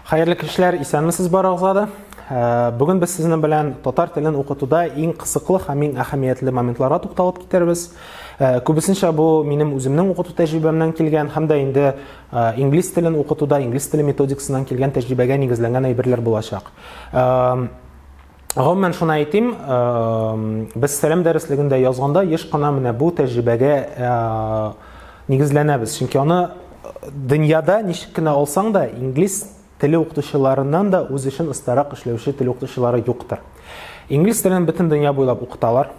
Хәерле кичләр, исәнмесез барыгызга да. Э, Бүген без сезнең белән татар телен укытуда иң кысыклы һәм иң әһәмиятле моментларга тукталып китербез. Э, Күбесенчә бу минем үземнең укыту тәҗрибәмнән килгән һәм дә инде э, инглиз телен укытуда инглиз теле методикасыннан килгән тәҗрибәгә нигезләнгән әйберләр булачак. Гомумән шуны әйтим, без сәлам дәреслегендә язганда еш кына менә бу тәҗрибәгә нигезләнәбез. Чөнки аны дөньяда ничек кенә алсаң да, инглиз теле укытучыларыннан да үз эшен остарак эшләүче тел укытучылары юктыр. Инглиз телен бөтен дөнья буйлап укыталар.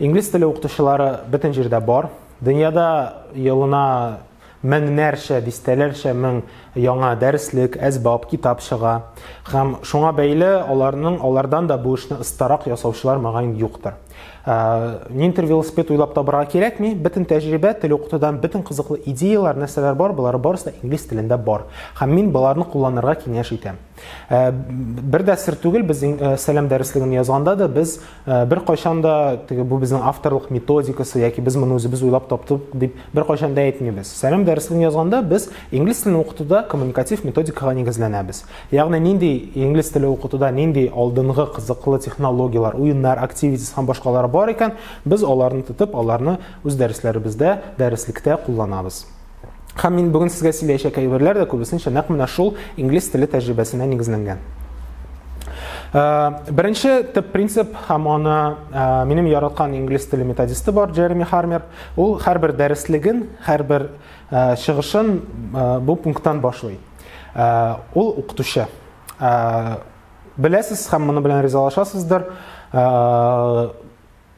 Инглиз теле укытучылары бөтен җирдә бар. Дөньяда елына меңнәрчә, дистәләрчә мең яңа дәреслек, әсбап, китап чыга. Һәм шуңа бәйле аларның алардан да бу эшне ыстарак ясаучылар мөгаен юктыр. Ә, нинтер велосипед уйлап табырга кирәкми, бөтен тәҗрибә, тел укытудан бөтен кызыклы идеяләр, нәрсәләр бар, болар барысы да инглиз телендә бар. Һәм мин боларны кулланырга киңәш итәм. Ә, бер дә сер түгел, без ә, сәлам дәреслеген язганда да без ә, бер кайчан да теге бу безнең авторлык методикасы яки без моны үзебез уйлап таптык дип бер кайчан да әйтмибез. Сәлам дәреслеген язганда без инглиз телен укытуда коммуникатив методикага нигезләнәбез. Ягъни нинди инглиз теле укытуда нинди алдынгы кызыклы технологияләр, уеннар, активитис һәм башкалар бар икән, без аларны тотып, аларны үз дәресләребездә, дәреслектә кулланабыз. Һәм мин бүген сезгә сөйләячәк әйберләр дә күбесенчә нәкъ менә шул инглиз теле тәҗрибәсенә нигезләнгән. Э, беренче төп принцип һәм аны э, минем яраткан инглиз теле методисты бар, Джереми Хармер. Ул һәрбер дәреслеген, һәрбер э, чыгышын бу пункттан башлый. Ул укытучы. Беләсез һәм моны белән ризалашасыздыр.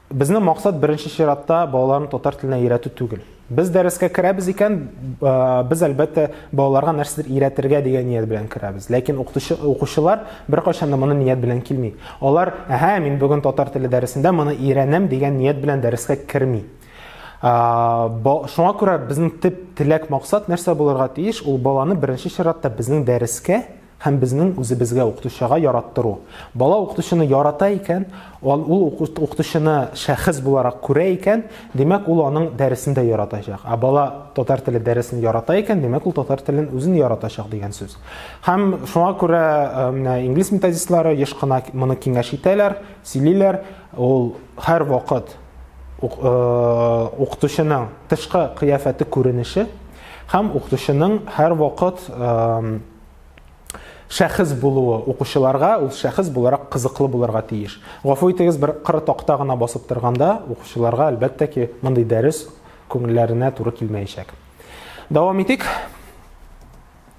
Безнең максат беренче чиратта балаларны татар теленә өйрәтү түгел. Без дәрескә керәбез икән, без әлбәттә балаларга нәрсәдер өйрәтергә дигән ният белән керәбез. Ләкин укытучы укучылар беркайчан да моны ният белән килми. Алар, әһә, мин бүген татар теле дәресендә моны өйрәнәм дигән ният белән дәрескә керми. Шуңа күрә безнең төп теләк максат нәрсә булырга тиеш? Ул баланы беренче чиратта безнең дәрескә Һәм безнең үзебезгә укытучыга яраттыру. Бала укытучыны ярата икән, ул ул укытучыны шәхес буларак күрә икән, димәк, ул аның дәресен дә яратачак. Ә бала татар теле дәресен ярата икән, димәк, ул татар телен үзен яратачак дигән сүз. Һәм шуңа күрә э, менә инглиз методистлары еш кына моны киңәш итәләр, сөйлиләр. Ул һәр вакыт э, укытучының тышкы кыяфәте күренеше һәм укытучының һәр вакыт э, шәхес булуы укучыларга ул шәхес буларак кызыклы булырга тиеш. Гафу итегез, бер кыры такта гына басып торганда укучыларга әлбәттә ки, мондый дәрес күңелләренә туры килмәячәк. Дәвам итик.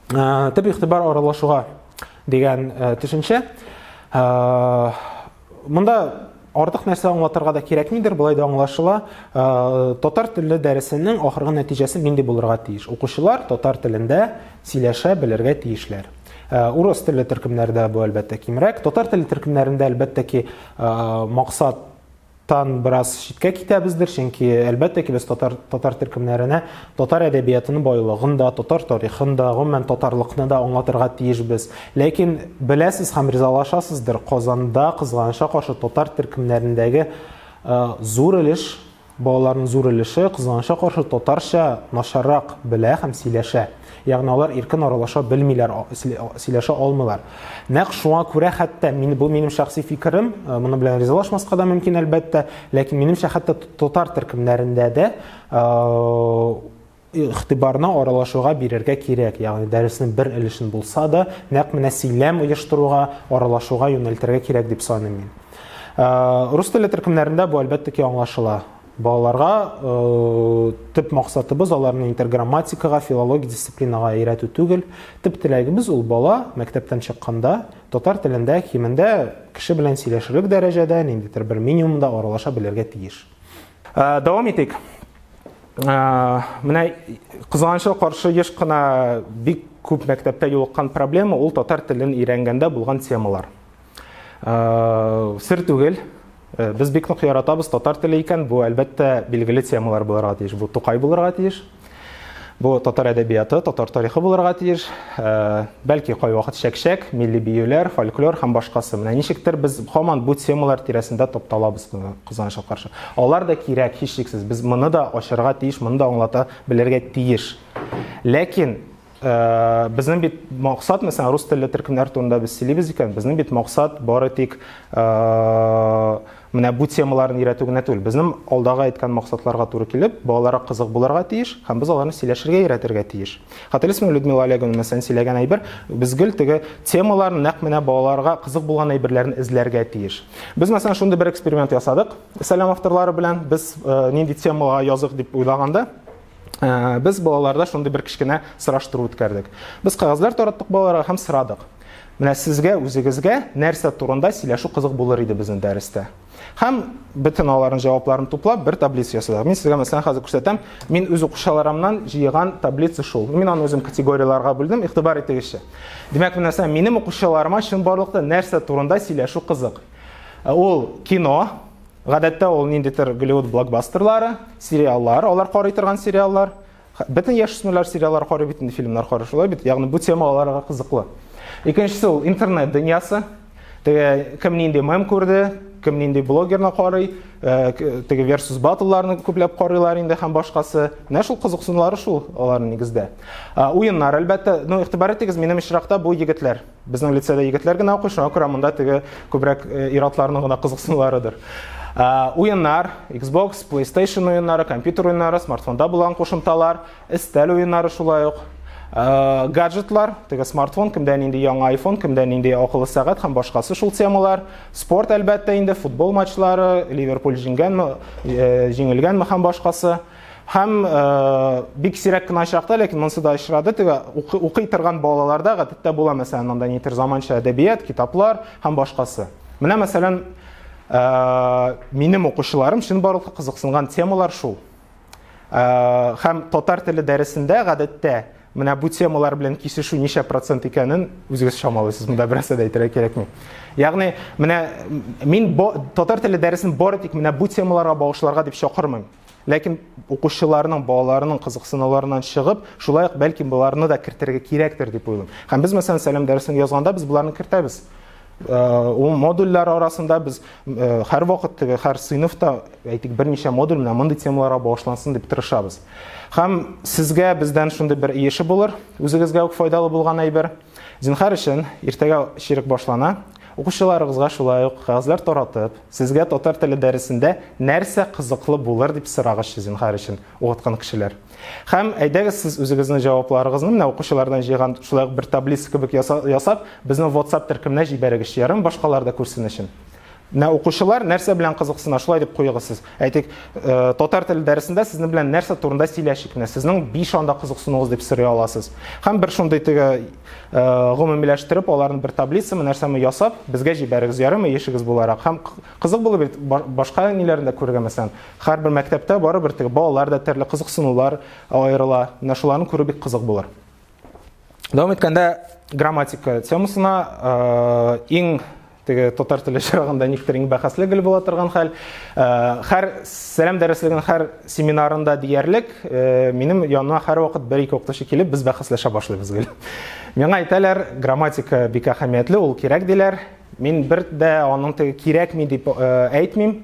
Ә, төп игътибар аралашуга дигән ә, төшенчә. Ә, Монда артык нәрсә аңлатырга да кирәкмидер, болай да аңлашыла. Э, татар теле дәресенең ахыргы нәтиҗәсе нинди булырга тиеш? Укучылар татар телендә сөйләшә белергә тиешләр. Э, урыс телле төркемнәрдә бу әлбәттә кимрәк. Татар телле төркемнәрендә әлбәттә ки э, максат тан бераз читкә китәбездер, чөнки әлбәттә ки без татар татар төркемнәренә Татар әдәбиятының байлыгын да, татар тарихын да, гомумән татарлыкны да аңлатырга тиешбез. Ләкин беләсез һәм ризалашасыздыр, Казанда кызганычка каршы татар төркемнәрендәге э, зур өлеш балаларның зур өлеше кызганычка каршы татарча начаррак белә һәм сөйләшә. Ягъни алар иркен аралаша белмиләр, сөйләшә алмыйлар. Нәкъ шуңа күрә хәтта мин бу минем шәхси фикерем, э, моны белән ризалашмаска да мөмкин әлбәттә, ләкин минемчә хәтта татар төркемнәрендә дә игътибарны аралашуга бирергә кирәк. Ягъни дәреснең бер өлешен булса да, нәкъ менә сөйләм оештыруга, аралашуга юнәлтергә кирәк дип саныйм мин. Рус теле төркемнәрендә бу әлбәттә ки аңлашыла. Балаларга төп максатыбыз аларны интерграмматикага, филология дисциплинага өйрәтү түгел. Төп теләгебез ул бала мәктәптән чыкканда татар телендә кимендә кеше белән сөйләшерлек дәрәҗәдә, ниндидер бер минимумда аралаша белергә тиеш. Ә, дәвам итик. Ә, менә кызганычка каршы еш кына бик күп мәктәптә юлыккан проблема ул татар телен өйрәнгәндә булган темалар. Ә, сер түгел, Э, без бик нык яратабыз татар теле икән бу әлбәттә билгеле темалар булырга тиеш бу тукай булырга тиеш Бу татар әдәбияты, татар тарихы булырга тиеш. Бәлки кайвакыт чәкчәк, милли биюләр, фольклор һәм башкасы. Менә ничектер без һаман бу темалар тирәсендә тапталабыз моны кызганычка каршы. Алар да кирәк, һичшиксез. Без моны да ачарга тиеш, моны да аңлата белергә тиеш. Ләкин Безнең бит максат, мәсәлән, рус телле төркемнәр турында без сөйлибез икән, безнең бит максат бары тик менә бу темаларны өйрәтү генә түгел. Безнең алдагы әйткән максатларга туры килеп, балаларга кызык булырга тиеш һәм без аларны сөйләшергә өйрәтергә тиеш. Хәтерлисеңме, Людмила Олеговна, мәсәлән, сөйләгән әйбер, без гел теге темаларны нәкъ менә балаларга кызык булган әйберләрне эзләргә тиеш. Без, мәсәлән, шундый бер эксперимент ясадык Сәлам авторлары белән. Без нинди темага языйк дип уйлаганда, ә, без балаларда шундый бер кечкенә сораштыру үткәрдек. Без кагазлар тараттык балаларга һәм сорадык. Менә сезгә үзегезгә нәрсә турында сөйләшү кызык булыр иде безнең дәрестә? Һәм бөтен аларның җавапларын туплап бер таблица ясадык. Мин сезгә мәсәлән хәзер күрсәтәм. Мин үз укучыларымнан җыйган таблица шул. Мин аны үзем категорияләргә бүлдем, игътибар итегезче. Димәк, менә сән минем укучыларыма чынбарлыкта нәрсә турында сөйләшү кызык? Ә ул кино, Гадәттә ул ниндидер Голливуд блокбастерлары, сериаллар, алар карый торган сериаллар. Бөтен яшүсмерләр сериаллар карый бит инде, фильмнар карый шулай бит. Ягъни бу тема аларга кызыклы. Икенчесе ул интернет дөньясы. Теге кем нинди мем күрде, кем нинди блогерны карый, э, теге versus батлларны күпләп карыйлар инде һәм башкасы. Менә шул кызыксынулары шул аларның нигездә. Уеннар әлбәттә, ну игътибар итегез, минем очракта бу егетләр. Безнең лицейда егетләр генә укый, шуңа күрә монда теге күбрәк э, иратларның гына кызыксынуларыдыр. Э, уеннар, Xbox, PlayStation уеннары, компьютер уеннары, смартфонда булган кушымталар, өстәл уеннары шулай ук. Э, гаджетлар, теге смартфон, кемдә нинди яңа iPhone, кемдә нинди акыллы сәгать һәм башкасы шул темалар. Спорт әлбәттә инде, футбол матчлары, Ливерпуль җиңгәнме, җиңелгәнме һәм башкасы. Һәм бик сирәк кенә очракта, ләкин монсы да очрады, теге укый торган балаларда гадәттә була, мәсәлән, монда нитер заманча әдәбият, китаплар һәм башкасы. Менә, мәсәлән, минем укучыларым чын барлыкка кызыксынган темалар шул. Һәм татар теле дәресендә гадәттә менә бу темалар белән кисешү ничә процент икәнен үзегез чамалыйсыз. Монда бераз да әйтергә кирәкми. Ягъни, менә мин татар теле дәресен бары тик менә бу темаларга багышларга дип чакырмыйм. Ләкин укучыларның, балаларының кызыксынуларыннан чыгып, шулай ук бәлки боларны да кертергә кирәктер дип уйлыйм. Һәм без мәсәлән сәлам дәресен язганда без боларны кертәбез. Э, ул модульләр арасында без э, һәр вакыт теге һәр сыйныфта әйтик берничә модуль менә мондый темаларга багышлансын дип тырышабыз. Һәм сезгә бездән шундый бер иеше булыр, үзегезгә үк файдалы булган әйбер. Зинхар өчен, иртәгә чирек башлана. Укучыларыгызга шулай ук кәгазьләр таратып, сезгә татар теле дәресендә нәрсә кызыклы булыр дип сорагызчы, зинхар өчен, укыткан кешеләр. Һәм әйдәгез сез үзегезнең җавапларыгызны менә укучылардан җыйган шулай ук бер таблица кебек ясап, безнең WhatsApp төркеменә җибәрегезче, ярыймы, башкалар да күрсен өчен. Менә укучылар нәрсә белән кызыксына, шулай дип куегыз сез. Әйтик, татар теле дәресендә сезнең белән нәрсә турында сөйләшик менә, сезнең биш анда кызыксынуыгыз дип сорый аласыз. Һәм бер шундый теге гомумиләштереп, аларны бер таблицамы, нәрсәме ясап, безгә җибәрегез, ярыймы, ешегез буларак. Һәм кызык булыр бит башка ниләрне дә күрергә, мәсәлән, һәрбер мәктәптә барыбер теге балалар да төрле кызыксынулар аерыла. Менә шуларны күрү бик кызык булыр. Дәвам иткәндә грамматика темасына иң Теге татар теле чорагында никтер иң бәхәсле гел була торган хәл. Хәр сәлам дәреслегенең хәр семинарында диярлек минем яныма хәр вакыт бер ике укытучы килеп, без бәхәсләшә башлыйбыз гел. Миңа әйтәләр, грамматика бик әһәмиятле, ул кирәк диләр. Мин бер дә аның теге кирәкми дип әйтмим.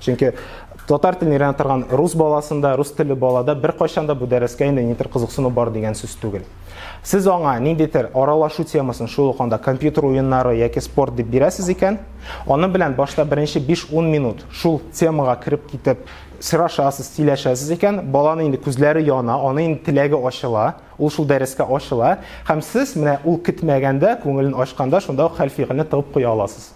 Чөнки татар телен өйрәнә торган рус баласында, рус теле балада бер кайчанда бу дәрескә инде нидер кызыксыну бар дигән сүз түгел. Сез аңа ниндидер аралашу темасын шул ук анда компьютер уеннары яки спорт дип бирәсез икән, аны белән башта беренче 5-10 минут шул темага кереп китеп сырашасыз, сөйләшәсез икән, баланы инде күзләре яна, аны инде теләге ачыла, ул шул дәрескә ачыла, һәм сез менә ул көтмәгәндә, күңелен ачканда шунда ук хәл-фигыльне тыгып куя аласыз.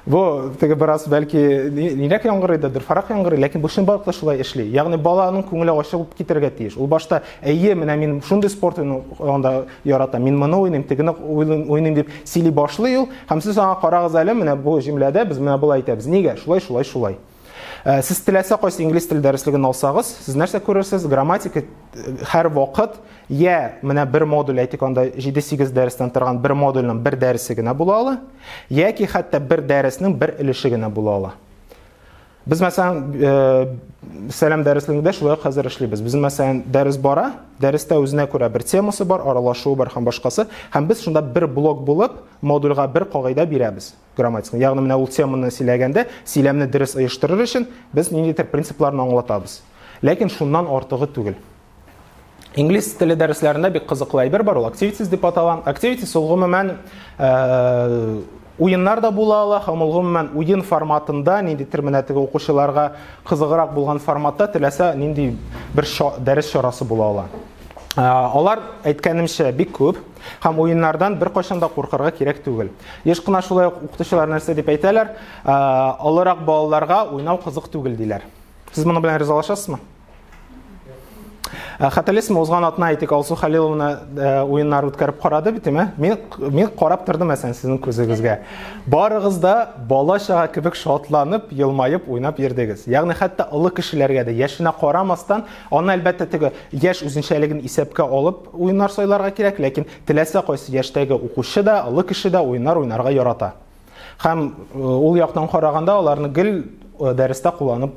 Бу теге бераз бәлки нирәк яңгырыйдыр, фарак яңгырый, ләкин бу чын балыкта шулай эшли. Ягъни баланың күңеле ачылып китәргә тиеш. Ул башта әйе, менә мин шундый спорт уйнавында ярата, мин моны уйныйм, тегене уйныйм дип сөйли башлый ул. Һәм сез аңа карагыз әле, менә бу җөмләдә без менә болай әйтәбез. Нигә? Шулай, шулай, шулай. Ә, сез теләсә кайсы инглиз теле дәреслеген алсагыз, сез нәрсә күрерсез? Грамматика э, һәр вакыт я менә бер модуль әйтик анда 7-8 дәрестән торган бер модульнең бер дәресе генә була ала, яки хәтта бер дәреснең бер өлеше генә була ала. Без мәсәлән э, сәлам дәреслегендә шулай хәзер эшлибез. Без мәсәлән дәрес бара, дәрестә үзенә күрә бер темасы бар, аралашуы бар һәм башкасы, һәм без шунда бер блок булып модульгә бер кагыйдә бирәбез. грамматиканы. Ягъни менә ул теманы сөйләгәндә, сөйләмне дөрес оештырыр өчен без ниндидер принципларны аңлатабыз. Ләкин шуннан артыгы түгел. Инглиз теле дәресләрендә бик кызыклы әйбер бар, ул activities дип атала. Activities ул гомумән э, уеннар да була ала һәм ул гомумән уен форматында, ниндидер менә теге укучыларга кызыграк булган форматта теләсә нинди бер дәрес чарасы була ала. Э, алар әйткәнемчә бик күп. Һәм уеннардан бер кайчан да куркырга кирәк түгел. Еш кына шулай ук укытучылар нәрсә дип әйтәләр, олырак балаларга уйнау кызык түгел диләр. Сез моны белән ризалашасызмы? Э, Хәтерлисезме, узган атна әйтик, Алсу Халиловна э, уеннар үткәреп карады бит, әме? Мин мин карап тордым әсән сезнең күзегезгә. Барыгыз да бала чага кебек шатланып, елмаеп уйнап йөрдегез. Ягъни хәтта олы кешеләргә дә яшенә карамастан, аны әлбәттә теге яшь үзенчәлеген исәпкә алып, Уеннар сайларга кирәк, ләкин теләсә кайсы яшьтәге укучы да, олы кеше дә уеннар уйнарга ярата. Һәм ул яктан караганда аларны гел дәрестә кулланып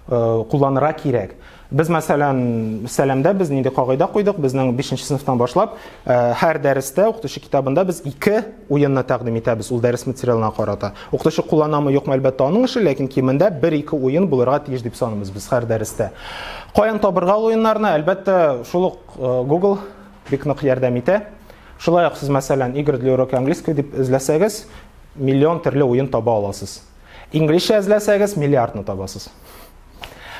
кулланырга кирәк. Без, мәсәлән, сәламдә без нинди кагыйдә куйдык, безнең 5 нче сыйныфтан башлап һәр дәрестә укытучы китабында без ике уенны тәкъдим итәбез ул дәрес материалына карата. Укытучы кулланамы, юкмы, әлбәттә, аның эше, ләкин кимендә бер-ике уен булырга тиеш дип саныйбыз без һәр дәрестә. Каян табырга уеннарны? Әлбәттә, шул ук Google бик нык ярдәм итә. Шулай ук сез, мәсәлән, игры для урока английского дип эзләсәгез, миллион төрле уен таба аласыз. Инглишчә эзләсәгез, миллиардны табасыз.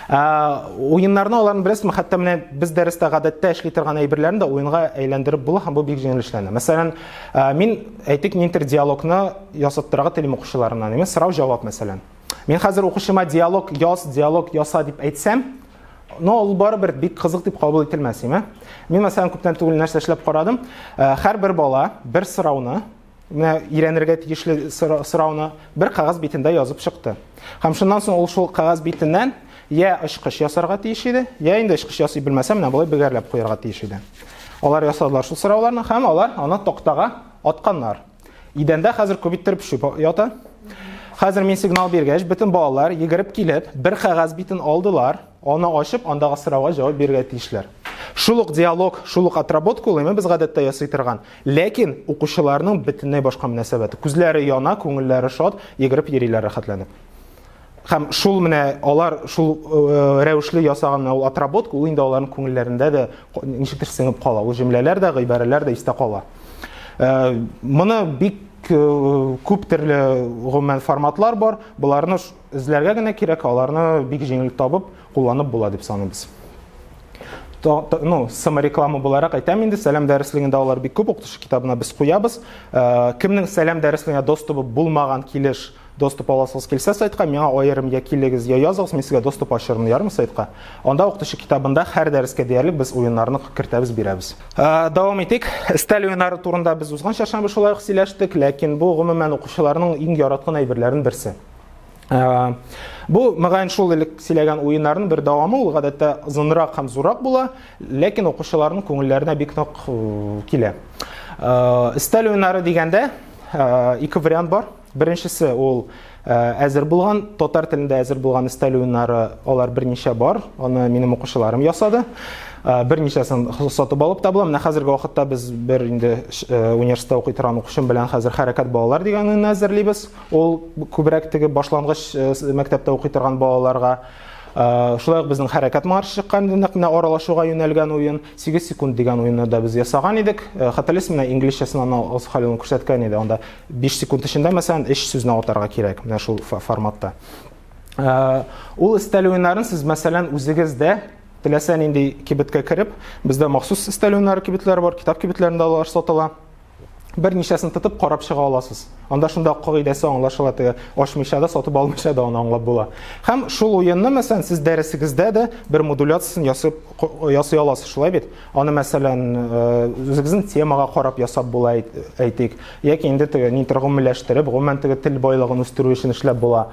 Ә, уеннарны аларны беләсезме? Хәтта менә без дәрестә гадәттә эшли торган әйберләрне дә уенга әйләндереп була һәм бу бик җиңел эшләнә. Мәсәлән, ә, мин әйтик, нинтер диалогны ясап торырга телим укучыларымнан. Сорау-җавап, мәсәлән. Мин хәзер укучыма диалог яз, диалог яса дип әйтсәм, но ул барыбер бик кызык дип кабул ителмәс име мин мәсәлән күптән түгел нәрсә эшләп карадым һәрбер бала бер сорауны менә өйрәнергә тиешле сорауны бер кәгазь битендә язып чыкты һәм шуннан соң ул шул кәгазь битеннән я очкыч ясарга тиеш иде я инде очкыч ясый белмәсә менә болай бөгәрләп куярга тиеш иде алар ясадылар шул сорауларны һәм алар аны тактага атканнар Идәндә хәзер күбиттереп шүп ята. Хәзер мин сигнал биргәч, бөтен балалар йөгереп килеп, бер кәгазь битен алдылар, аны ачып, андагы сорауга җавап бирергә тиешләр. Шул ук диалог, шул ук отработка ул без гадәттә ясый торган. Ләкин укучыларның бөтенләй башка мөнәсәбәте. Күзләре яна, күңелләре шат, йөгереп йөриләр рәхәтләнеп. Хәм шул менә алар шул э, рәвешле ясаган ул отработка, ул инде аларның күңелләрендә дә ничектер сеңеп кала. Ул җөмләләр дә, гыйбарәләр дә истә кала. Э, моны бик Э, күп төрле гомумән форматлар бар. Боларны эзләргә генә кирәк, аларны бик җиңел табып, кулланып була дип саныйбыз. Ну, самореклама буларак әйтәм инде, сәлам дәреслегендә алар бик күп укытучы китабына без куябыз. Э, кемнең сәлам дәреслегенә доступы булмаган килеш Доступ аласыгыз килсә сайтка, миңа аерым я килегез, я языгыз, мин сезгә доступ ачырмын, ярым сайтка. Анда укытучы китабында һәр дәрескә диярлек без уеннарны кертәбез, бирәбез. Дәвам итик. Стәл уеннары турында без узган чаршамбы шулай ук сөйләштек, ләкин бу гомумән укучыларның иң яраткан әйберләрен берсе. Бу мөгаен шул элек сөйләгән уеннарның бер дәвамы, ул гадәттә озынрак һәм зуррак була, ләкин укучыларның күңелләренә бик нык килә. Өстәл уеннары дигәндә ике вариант бар. Беренчесе ул әзер булган, татар телендә әзер булган өстәл уеннары, алар берничә бар. Аны минем укучыларым ясады. Берничәсен сатып алып та була. Менә хәзерге вакытта без бер инде университетта укый торган укучым белән хәзер хәрәкәт балалар дигән уенны әзерлибез. Ул күбрәк теге башлангыч мәктәптә укый торган балаларга Шулай ук безнең хәрәкәт марш чыккан нәкъ менә аралашуга юнәлгән уен, 8 секунд дигән уенны да без ясаган идек. Хәтерлисезме, инглизчәсен аны Алсу Хәлиловна күрсәткән иде. Анда 5 секунд эчендә, мәсәлән, 3 сүзне атарга кирәк, менә шул форматта. Э, ул өстәл уеннарын сез, мәсәлән, үзегез дә теләсә нинди кибеткә кереп, бездә махсус өстәл уеннары кибетләре бар, китап кибетләрендә алар сатыла. Берничәсен тотып карап чыга аласыз. Анда шунда кагыйдәсе аңлашыла, теге ачмыйча да, сатып алмыйча да аны аңлап була. Һәм шул уенны, мәсәлән, сез дәресегездә дә бер модуляциясен ясап ясый аласыз, шулай бит? Аны, мәсәлән, үзегезнең темага карап ясап була, әйтик, яки инде теге нидер гомумиләштереп, гомумән теге тел байлыгын үстерү өчен эшләп була.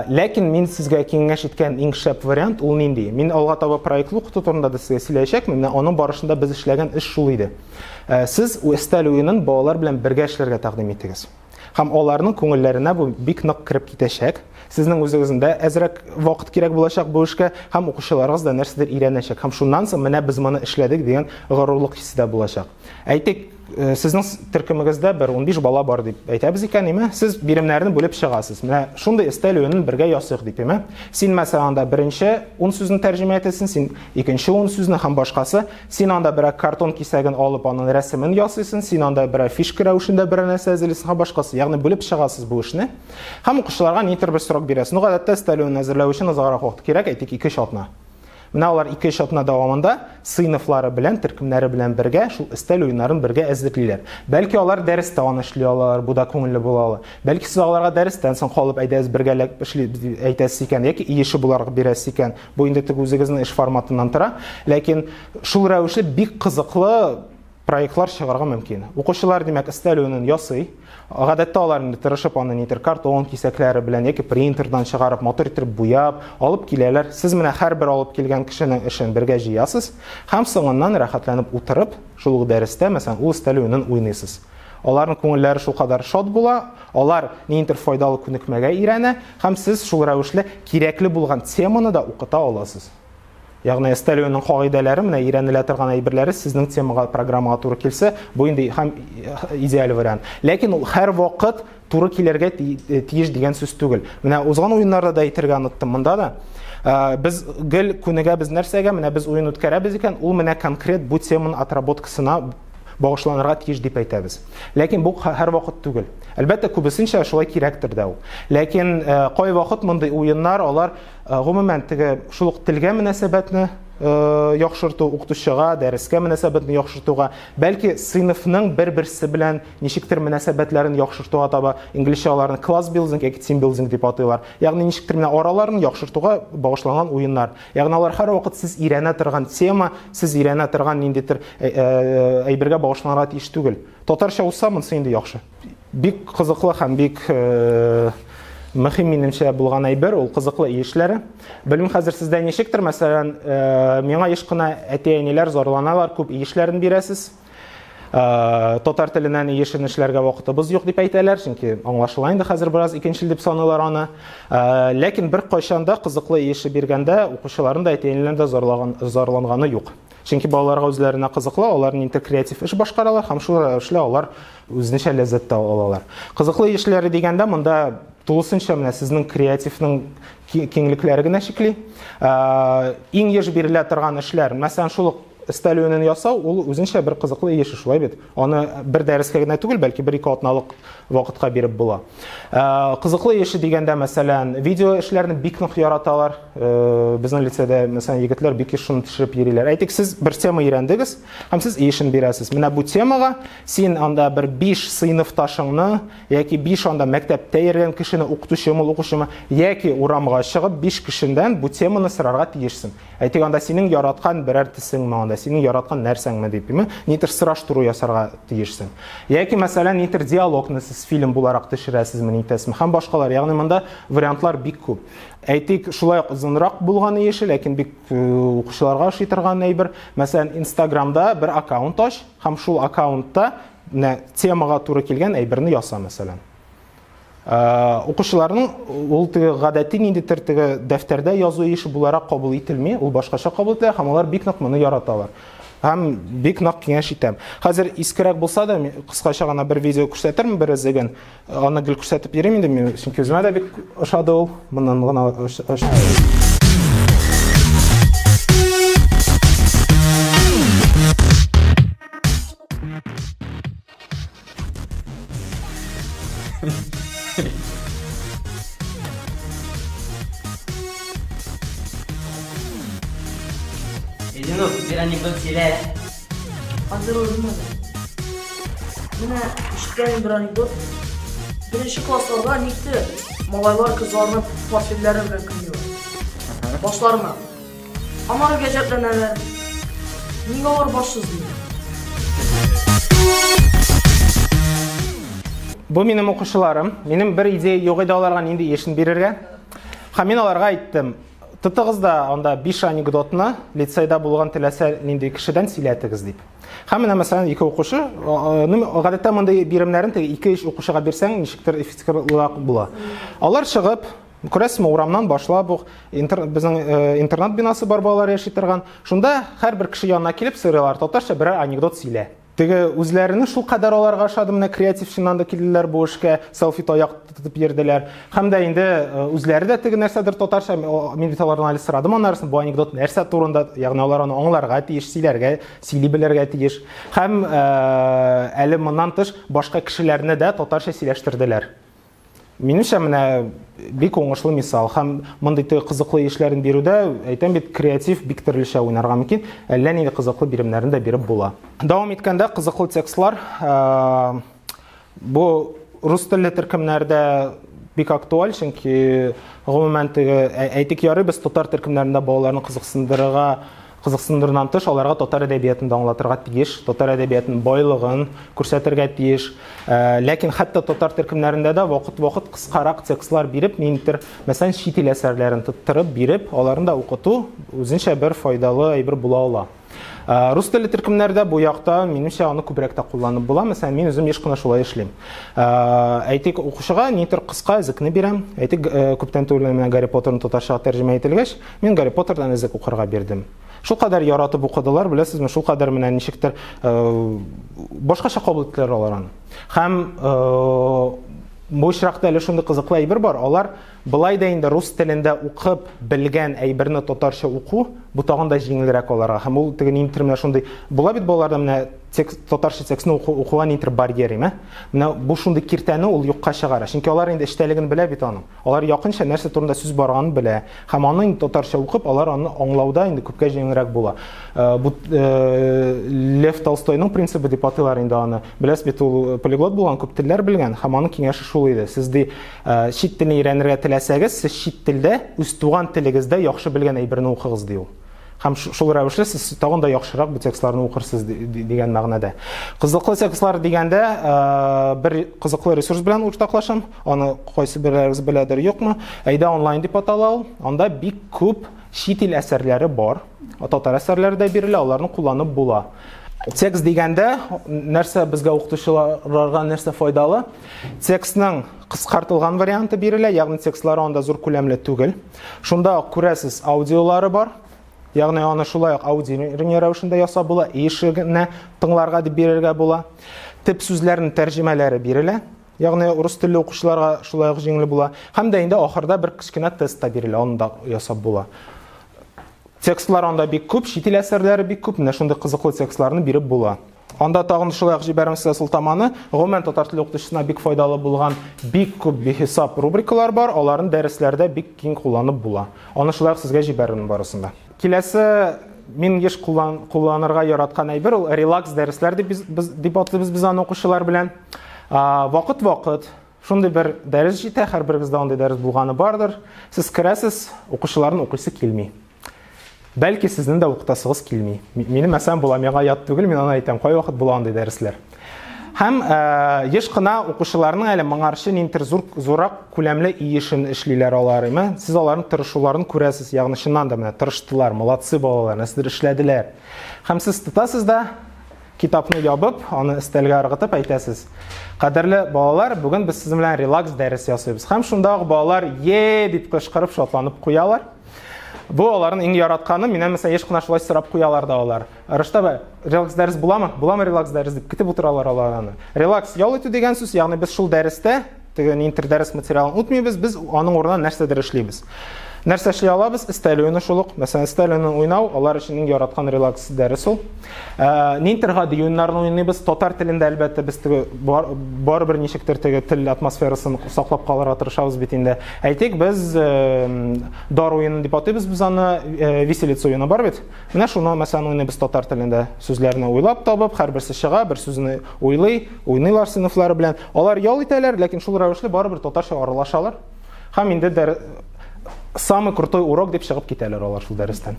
Ләкин мин сезгә киңәш иткән иң шәп вариант ул нинди? Мин алга таба проектлы укыту турында да сезгә сөйләячәкмен. Менә аның барышында без эшләгән эш шул иде. Сез Эстәл уенын балалар белән бергә эшләргә тәкъдим итегез. Һәм аларның күңелләренә бу бик нык кереп китәчәк. Сезнең үзегезнең дә әзрәк вакыт кирәк булачак бу эшкә, һәм укучыларыгыз да нәрсәдер өйрәнәчәк. Һәм шуннан соң менә без моны эшләдек дигән горурлык хисе дә булачак. Әйтик, э, сезнең төркемегездә бер 15 бала бар дип әйтәбез икән, име? Сез биремнәрне бүлеп чыгасыз. Менә шундый өстәл уенын бергә ясыйк дип, име? Син мәсәлән анда беренче 10 сүзне тәрҗемә итәсең, син икенче 10 сүзне һәм башкасы. Син анда берәр картон кисәген алып, аның рәсемен ясыйсың, син анда берәр фишка рәвешендә берәр нәрсә әзерлисең һәм башкасы. Ягъни бүлеп чыгасыз бу эшне. Һәм укучыларга нидер бер срок бирәсез. Ну, гадәттә өстәлеүен әзерләү өчен озаграк вакыт кирәк, әйтик, 2-3 атна. Менә алар 2-3 атна дәвамында сыйныфлары белән, төркемнәре белән бергә шул өстәл уеннарын бергә әзерлиләр. Бәлки алар дәрестә аны эшли алалар, бу да күңелле була ала. Бәлки сез аларга дәрестән соң калып әйдәгез бергәләп эшлибез дип әйтәсез икән яки ие эше буларак бирәсез икән, Бу инде тик үзегезнең эш форматыннан тора, ләкин шул рәвешле бик кызыклы проектлар чыгарга мөмкин. Укучылар, димәк, өстәлүенен ясый. Гадәттә алар инде тырышып аны нидер картон кисәкләре белән яки принтердан чыгарып, матур итеп буяп, алып киләләр. Сез менә һәрбер алып килгән кешенең эшен бергә җыясыз һәм соңыннан рәхәтләнеп утырып, шул ук дәрестә, мәсәлән, ул өстәлүенен уйныйсыз. Аларның күңелләре шулкадәр шат була, алар ниндидер файдалы күнекмәгә өйрәнә, һәм сез шул рәвешле кирәкле булган теманы да укыта аласыз. Ягъни стелионың кагыйдәләре менә өйрәнелә торган әйберләре сезнең темага, программага туры килсә, бу инде һәм э, идеаль вариант. Ләкин ул һәр вакыт туры килергә э, тиеш дигән сүз түгел. Менә узган уеннарда да әйтергә оныттым монда да. Э, без гел күнегәбез нәрсәгә? Менә без уен үткәрәбез икән, ул менә конкрет бу теманың отработкасына багышланырга тиеш дип әйтәбез. Ләкин бу һәрвакыт түгел. Әлбәттә, күбесенчә шулай кирәктер дә ул. Ләкин э, кайвакыт мондый уеннар, алар э, гомумән теге шул ук телгә мөнәсәбәтне э, яхшырту, укытучыга, дәрескә мөнәсәбәтне яхшыртуга, бәлки сыйныфның бер-берсе белән ничектер мөнәсәбәтләрен яхшыртуга таба, инглизчә аларны класс билдинг яки тим билдинг дип атыйлар. Ягъни ничектер менә араларын яхшыртуга багышланган уеннар. Ягъни алар һәрвакыт сез өйрәнә торган тема, сез өйрәнә торган ниндидер э, э, әйбергә багышланырга тиеш түгел. Татарча узса, монысы инде яхшы. Бик кызыклы һәм бик э, мөһим минемчә булган әйбер ул кызыклы үй эшләре. Белмим хәзер сездә ничектер, мәсәлән, миңа еш кына әти-әниләр зарланалар, күп үй эшләрен бирәсез. Э, татар теленә ни яшерен эшләргә вакытыбыз юк дип әйтәләр, чөнки аңлашыла инде хәзер бераз икенчел дип саныйлар аны. Э, ләкин бер кайшанда кызыклы ише биргәндә укучыларын да әтиенләрен дә зарлаган зарланганы юк. Чөнки балаларга үзләренә кызыклы, алар нинди креатив эш башкаралар һәм шул рәвешле алар үзенчә ләззәт тә алалар. Кызыклы эшләре дигәндә монда тулысынча менә сезнең креативның киңлекләре генә чикли. Э, иң еш бирелә торган эшләр, мәсәлән, шул ук Өстәл өенен ясау ул үзенчә бер кызыклы еш, шулай бит? Аны бер дәрескә генә түгел, бәлки бер-ике атналык вакытка биреп була. Э, кызыклы еше дигәндә, мәсәлән, видео эшләрне бик нык яраталар. Э, безнең лицеда, мәсәлән, егетләр бик еш шуны төшереп йөриләр. Әйтик, сез бер тема өйрәндегез һәм сез ишен бирәсез. Менә бу темага син анда бер 5 сыйныфташыңны яки 5 анда мәктәптә йөргән кешене, укытучымы, укучымы, яки урамга чыгып 5 кешедән бу теманы сорарга тиешсең. Әйтик, анда синең яраткан берәр тесең ме, анда синең яраткан нәрсәң ме дип, ме, нитер сораштыру ясарга тиешсең. Яки, мәсәлән, нитер диалогны сез фильм буларак төшерәсезме, нитәсезме, һәм башкалар. Ягъни монда вариантлар бик күп. Әйтик, шулай ук озынрак булганы еш, ләкин бик э, укучыларга ошый торган әйбер. Мәсәлән, Инстаграмда бер аккаунт ач һәм шул аккаунтта темага туры килгән әйберне яса, мәсәлән. укучыларның ул теге гадәти ниндидер теге дәфтәрдә язу ише буларак кабул ителми, ул башкача кабул ителә һәм алар бик нык моны яраталар. Һәм бик нык киңәш итәм. Хәзер искерәк булса да, кыскача гына бер видео күрсәтермен бер эзеген. Аны гел күрсәтеп йөрим инде мин, чөнки үземә дә бик ошады ул. Моннан гына Thank you. Эдинур, бир анекдот сөйлә. Хәзер үзем Менә ишеткән бер анекдот. Беренче классларда никте малайлар кызларны портфельләре белән кыйнады. Башларына. Аңар гаҗәпләнәләр. Ник алар баш сызмый? Бу минем укучыларым. Минем бер идея юк иде аларга нинди яшен бирергә. Һәм мин аларга әйттем, тотыгыз да анда 5 анекдотны лицейда булган теләсә нинди кешедән сөйләтегез дип. Һәм менә мәсәлән ике укучы, гадәттә мондый биремнәрен теге 2-3 укучыга бирсәң, ничектер эффективрак була. Алар чыгып, Күрәсезме, урамнан башлап ук интер, безнең э, интернат бинасы бар балалар яши торган. Шунда һәрбер кеше янына килеп сыйрыйлар, татарча берәр анекдот сөйлә. Теге үзләренең шул кадәр аларга ошады, менә креативщиннан да килделәр бу эшкә, селфи таяк тотып йөрделәр. Һәм дә инде э, үзләре дә теге нәрсәдер татарча, мин бит алардан әле сорадым анарысын, бу анекдот нәрсә турында, ягъни алар аны аңларга тиеш, сөйләргә, сөйли белергә тиеш. Һәм э, әле моннан тыш башка кешеләрне дә татарча сөйләштерделәр. Минемчә, менә бик уңышлы мисал һәм мондый кызыклы эшләрен бирүдә, әйтәм бит, креатив бик төрлечә уйнарга мөмкин. Әллә нинди кызыклы биремнәрен дә биреп була. Дәвам иткәндә кызыклы текстлар э, бу рус телле төркемнәрдә бик актуаль, чөнки гомумән теге әйтик ярый без татар төркемнәрендә балаларны кызыксындырырга Кызыксындырудан тыш, аларга татар әдәбиятын да аңлатырга тиеш, татар әдәбиятының байлыгын күрсәтергә тиеш. Ләкин хәтта татар төркемнәрендә дә вакыт-вакыт кыскарак текстлар биреп, ниндидер, мәсәлән, чит ил әсәрләрен тоттырып биреп, аларны да укыту үзенчә бер файдалы әйбер була ала. Рус теле төркемнәрдә бу якта, минемчә, аны күбрәк тә кулланып була. Мәсәлән, мин үзем еш кына шулай эшлим. Әйтик, укучыга нидер кыска зекне бирәм. Әйтик, күптән түгел менә Гарри Поттерны татарчага тәрҗемә ителгәч, Мин Гарри Поттердан эзек укырга бирдем. Шул кадәр яратып укыдылар, беләсезме, шул кадәр менә ничектер э, башкача кабул иттеләр алар аны. Һәм э, бу очракта әле шундый кызыклы әйбер бар, алар былай да инде рус телендә укып белгән әйберне татарча уку, бу тагын да җиңелрәк аларга. Һәм ул теге нинтер менә шундый, була бит балаларда менә текст, татарча текстны уку, укуга нинтер барьер име. Менә бу шундый киртәне ул юкка чыгара, чөнки алар инде эчтәлеген белә бит аның. Алар якынча нәрсә турында сүз барганын белә һәм аны инде татарча укып, алар аны аңлауда инде күпкә җиңелрәк була. Э, бу э, Лев Толстойның принцибы дип атыйлар инде аны. Беләс бит ул э, полиглот булган, күп телләр белгән һәм аның киңәше шул иде. Сез ди чит телне өйрәнергә теләсәгез, сез чит телдә үз туган телегездә яхшы белгән әйберне укыгыз ди ул. Һәм шул рәвешле сез тагын да яхшырак бу текстларны укырсыз дигән мәгънәдә. Кызыклы текстлар дигәндә э, бер кызыклы ресурс белән уртаклашам. Аны кайсы берәрегез беләдер, юкмы? Әйдә онлайн дип атала ул. Анда бик күп чит ил әсәрләре бар. Татар әсәрләре дә бирелә, аларны кулланып була. Текст дигәндә нәрсә безгә укытучыларга нәрсә файдалы? Текстның кыскартылган варианты бирелә, ягъни текстлар анда зур күләмле түгел. Шунда ук күрәсез аудиолары бар. Ягъни аны шулай ук аудио рәвешендә ясап була, ишегенә тыңларга дип бирергә була. Тип сүзләрнең тәрҗемәләре бирелә. Ягъни урыс телле укучыларга шулай ук җиңел була. Һәм дә инде ахырда бер кечкенә тест та бирелә, аны да ясап була. Текстлар анда бик күп, чит ил әсәрләре бик күп, менә шундый кызыклы текстларны биреп була. Анда тагын шулай ук җибәрәм сезгә сылтаманы. Гомумән татар теле укытучысына бик файдалы булган бик күп бихисап рубрикалар бар, аларны дәресләрдә бик киң кулланып була. Аны шулай ук сезгә җибәрермен барысын да. Киләсе мин еш куллан, кулланырга яраткан әйбер ул релакс дәресләр дип без, без дип атлыйбыз без аны укучылар белән. Вакыт-вакыт шундый бер дәрес җитә, һәрберегездә андый дәрес булганы бардыр. Сез керәсез, укучыларны укыйсы килми. Бәлки сезнең дә укытасыгыз килми. Минем мәсәлән була, миңа ят түгел, мин аны әйтәм, кайвакыт була андый дәресләр. Һәм э, еш кына укучыларның әле моңарчы ниндидер зур зурак күләмле иешен эшлиләр алар, әйме? Сез аларның тырышуларын күрәсез, ягъни чыннан да менә тырыштылар, молодцы балалар, нәрсәдер эшләделәр. Һәм сез тотасыз да китапны ябып, аны өстәлгә ыргытып әйтәсез. Кадерле балалар, бүген без сезнең белән релакс дәрес ясыйбыз. Һәм шунда ук балалар е дип кычкырып шатланып куялар. Бу аларның иң яратканы. Миннән мәсәлән еш кына шулай сорап куялар да алар. Рышта бә релакс дәрес буламы? Буламы релакс дәрес дип көтеп утыралар алар аны. Релакс ял итү дигән сүз, ягъни без шул дәрестә теге интер дәрес материалын үтмибез, без аның урынына нәрсәдер эшлибез. Нәрсә эшли алабыз? Сталионы шул ук. Мәсәлән, сталионы уйнау алар өчен иң яраткан релакс дәрес ул. Э, Нинтерга дюйннарны уйныйбыз. Татар телендә, әлбәттә, без теге барыбер ничектер теге тел атмосферасын саклап калырга тырышабыз бит инде. Әйтик, без э, дар уены дип атыйбыз без аны, э, виселица уены бар бит. Менә шуны, мәсәлән, уйныйбыз татар телендә. Сүзләрне уйлап табып, һәрберсе чыга, бер сүзне уйлый, уйныйлар сыйныфлары белән. Алар ял итәләр, ләкин шул рәвешле барыбер татарча аралашалар. Һәм инде дәр... самый крутой урок дип чыгып китәләр алар шул дәрестән.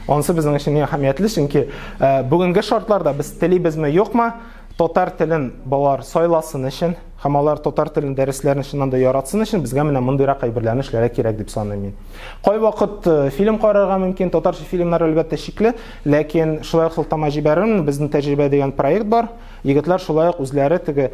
Анысы безнең өчен иң әһәмиятле, чөнки ә, бүгенге шартларда без телибезме, юкмы, татар телен балалар сайласын өчен һәм алар татар телен дәресләрен чыннан да яратсын өчен безгә менә мондыйрак әйберләрне эшләргә кирәк дип саныйм мин. Кайвакыт э, фильм карарга мөмкин, татарча фильмнар әлбәттә шикле, ләкин шулай ук сылтама җибәрермен, безнең тәҗрибә дигән проект бар. Егетләр шулай ук үзләре теге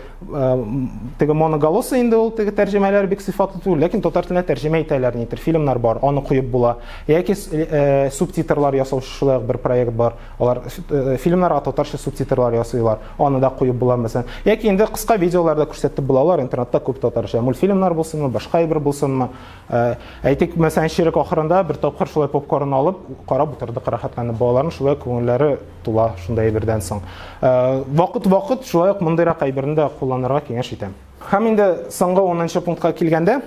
теге моноголосы инде ул теге тәрҗемәләр бик сыйфатлы түгел, ләкин татар теленә тәрҗемә итәләр нидер, фильмнар бар, аны куеп була. Яки э, субтитрлар ясаучы шулай ук бер проект бар. Алар э, фильмнарга татарча субтитрлар ясыйлар, аны да куеп була мәсәлән. Яки инде кыска видеоларда күрсәтеп була, алар интернетта күп татарча. Мультфильмнар булсынмы, башка әйбер булсынмы. Э, әйтик, мәсәлән, ширек ахырында бер тапкыр шулай попкорн алып, карап утырдык рәхәтләнеп. Балаларның шулай күңелләре тула шундай әйбердән соң. Вакыт-вакыт шулай ук мондыйрак әйберне дә кулланырга киңәш итәм. Һәм инде соңгы 10 пунктка килгәндә,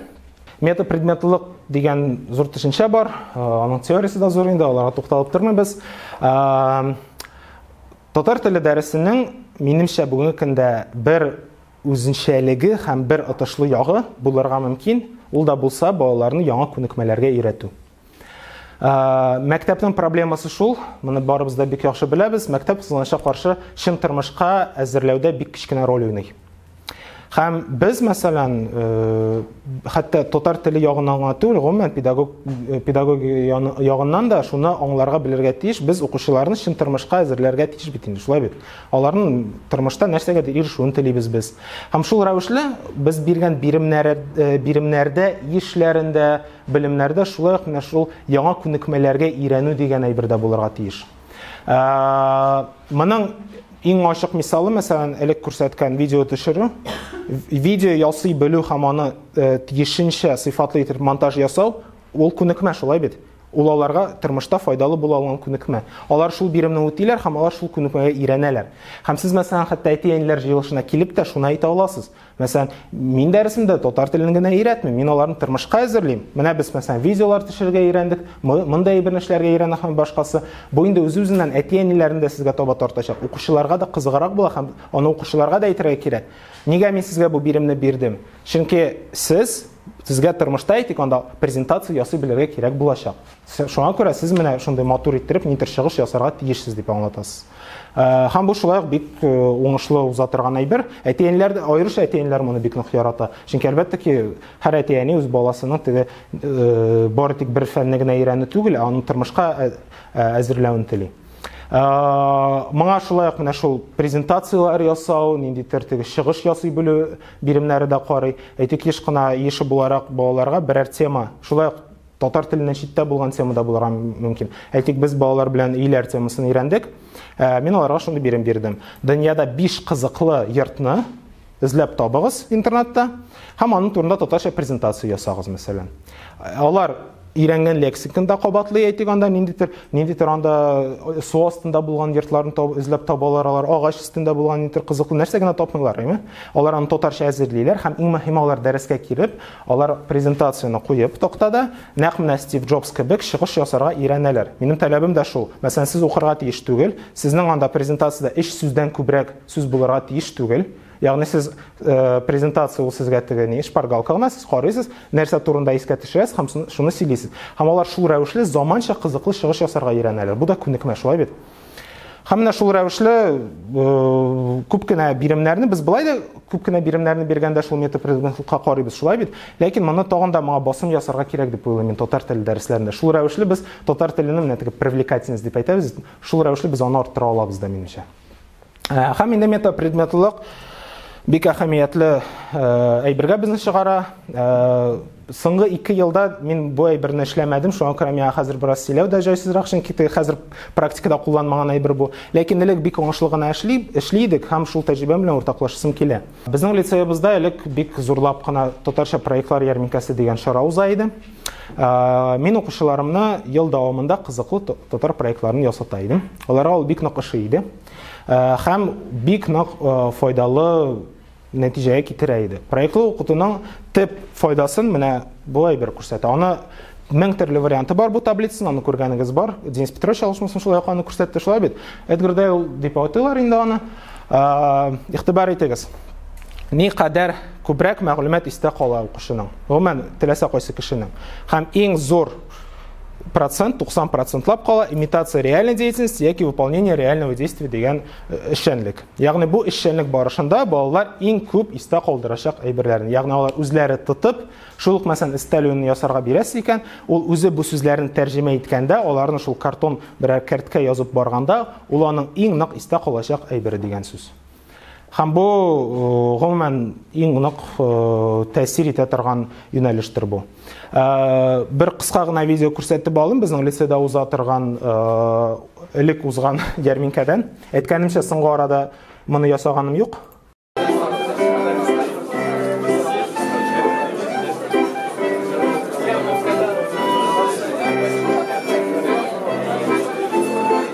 метапредметлылык дигән зур төшенчә бар. Э, аның теориясе дә зур инде, аларга тукталып тормыйбыз. Э, татар теле дәресенең минемчә бүгенге көндә бер үзенчәлеге һәм бер отышлы ягы булырга мөмкин. Ул да булса балаларны яңа күнекмәләргә өйрәтү. Ә, мәктәпнең проблемасы шул, моны барыбыз да бик яхшы беләбез, мәктәп кызганычка каршы чын тормышка әзерләүдә бик кечкенә роль уйный. Һәм без, мәсәлән, э, хәтта татар теле ягыннан гына түгел, гомумән педагог э, педагог ягыннан да шуны аңларга белергә тиеш, без укучыларны чын тормышка әзерләргә тиеш бит инде, шулай бит. Аларның тормышта нәрсәгә дә ирешүен телибез без. Һәм шул рәвешле без биргән биремнәр э, биремнәрдә, ишләрендә, Белемнәрдә шулай ук менә шул яңа күнекмәләргә өйрәнү дигән әйбер дә булырга тиеш. Ә, моның иң ачык мисалы, мәсәлән, элек күрсәткән видео төшерү. Видео ясый белү һәм аны э, тиешенчә сыйфатлы итеп монтаж ясау, ул күнекмә шулай бит. Ул аларга тормышта файдалы була алган күнекмә. Алар шул биремне үтиләр һәм алар шул күнекмәгә өйрәнәләр. Һәм сез, мәсәлән, хәтта әти-әниләр җыелышына килеп тә шуны әйтә аласыз. Мәсәлән, мин дәресемдә татар телен генә өйрәтмим, мин аларны тормышка әзерлим. Менә без мәсәлән видеолар төшерергә өйрәндек, мондый бер нәрсәләргә өйрәнә һәм башкасы. Бу инде үз-үзеннән әти-әниләрне дә сезгә таба тартачак. Укучыларга да кызыграк була һәм аны укучыларга да әйтергә кирәк. Нигә мин сезгә бу биремне бирдем? Чөнки сез сезгә тормышта әйтик, анда презентация ясый белергә кирәк булачак. Шуңа күрә сез менә шундый матур иттереп нидер чыгыш ясарга тиешсез дип аңлатасыз. Э, һәм бу шулай ук бик э, уңышлы уза торган әйбер. Әтиәниләр дә аеруча әтиәниләр моны бик нык ярата. Чөнки әлбәттә ки, һәр әтиәни үз баласының теге э, бары тик бер фәнне генә өйрәнү түгел, ә аны тормышка әзерләвен тели. Моңа шулай ук менә шул презентацияләр ясау, нинди тертеге чыгыш ясый белү биремнәре дә карый. Әйтик, еш кына еши буларак балаларга берәр тема, шулай ук Татар теленнән читтә булган тема да булырга мөмкин. Әйтик, без балалар белән өйләр темасын өйрәндек. Ә, мин аларга шундый бирем бирдем. Дөньяда 5 кызыклы йортны эзләп табыгыз интернетта һәм аның турында татарча презентация ясагыз, мәсәлән. Алар өйрәнгән лексиканы да кабатлый әйтик анда ниндидер ниндидер анда э, су астында булган йортларны таб, эзләп табалар алар агач өстендә булган ниндидер кызыклы нәрсә генә тапмыйлар әйме алар аны татарча әзерлиләр һәм иң мөһиме алар дәрескә килеп Алар презентацияне куеп, тактада, нәкъ менә Стив Джобс кебек, чыгыш ясарга өйрәнәләр. Минем таләбем дә шул. Мәсәлән, сез укырга тиеш түгел, сезнең анда презентациядә өч сүздән күбрәк сүз булырга тиеш түгел. Ягъни сез, презентация ул сезгә теге ни, шпаргалка гына, сез карыйсыз, нәрсә турында искә төшерәсез һәм шуны сөйлисез. Һәм алар шул рәвешле заманча кызыклы чыгыш ясарга өйрәнәләр. Бу да күнекмә, шулай бит? Һәм менә шул рәвешле күп кенә биремнәрне без былай да күп кенә биремнәрне биргәндә шул метапредметлыкка карыйбыз, шулай бит. Ләкин моны тагын да моңа басым ясарга кирәк дип уйлыйм мин татар теле дәресләрендә. Шул рәвешле без татар теленең менә теге привлекательность дип әйтәбез, шул рәвешле без аны арттыра алабыз да минемчә. Ә, һәм инде метапредметлылык бик әһәмиятле әйбергә безне чыгара. Соңгы ике елда мин бу әйберне эшләмәдем, шуңа күрә миңа хәзер бераз сөйләү дә җайсызрак, чөнки хәзер практикада кулланмаган әйбер бу. Ләкин элек бик уңышлы гына эшли, эшли идек һәм шул тәҗрибәм белән уртаклашасым килә. Безнең лицеебызда элек бик зурлап кына татарча проектлар ярминкәсе дигән чара уза иде. Мин укучыларымны ел дәвамында кызыклы татар проектларын ясата идем. Аларга ул бик нык ошый иде. Хәм бик нак файдалы нәтиҗәгә китерә иде. Проектлы укытуның төп файдасын менә бу әйбер күрсәтә. Аны мең төрле варианты бар бу таблицаны, аны күргәнегез бар. Денис Петрович алышмасын шулай ук аны күрсәтте, шулай бит? Эдгар Дейл дип атыйлар инде аны. Игътибар итегез. Ни кадәр күбрәк мәгълүмат истә кала укучының, гомумән, теләсә кайсы кешенең. Һәм иң зур процент 90 процентлап кала имитация реальной деятельности яки выполнение реального действия дигән э, эшчәнлек ягъни бу эшчәнлек барышында балалар иң күп истә калдырачак әйберләрен ягъни алар үзләре тотып шул ук мәсәлән өстәлүен ясарга бирәсе икән ул үзе бу сүзләрне тәрҗемә иткәндә аларны шул картон берәр кәрткә язып барганда ул аның иң нык истә калачак әйбере дигән сүз Һәм бу гомумән иң нык тәэсир итә торган юнәлештер бу. Бер кыска гына видео күрсәтеп алым безнең лицеда уза торган элек узган ярминкәдән. Әйткәнемчә, соңгы арада моны ясаганым юк.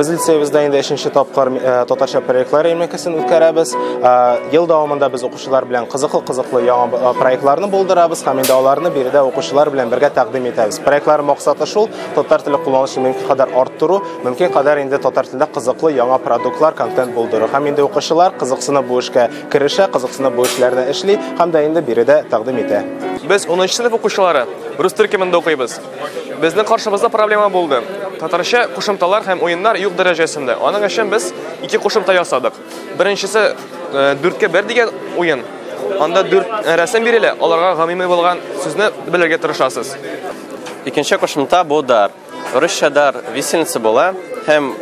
Без лицеебездә инде 3нче тапкыр э, татарча проектлар ярмәкәсен үткәрәбез. Э, ел дәвамында без укучылар белән кызыклы-кызыклы яңа э, проектларны булдырабыз һәм инде аларны биредә укучылар белән бергә тәкъдим итәбез. Проектлар максаты шул, татар теле кулланышын мөмкин кадәр арттыру, мөмкин кадәр инде татар телендә кызыклы яңа продуктлар, контент булдыру. Һәм инде укучылар кызыксынып бу эшкә керешә, кызыксынып бу эшләрне эшли һәм дә инде биредә тәкъдим итә. Без 10 сыйныф укучылары, рус төркемендә укыйбыз. Безнең каршыбызда проблема булды. Татарча кушымталар һәм уеннар юк дәрәҗәсендә. Аның өчен без ике кушымта ясадык. Беренчесе дүрткә бер дигән уен. Анда дүрт рәсем бирелә, аларга гамими булган сүзне белергә тырышасыз. Икенче кушымта бу дар. Русча дар висельница була һәм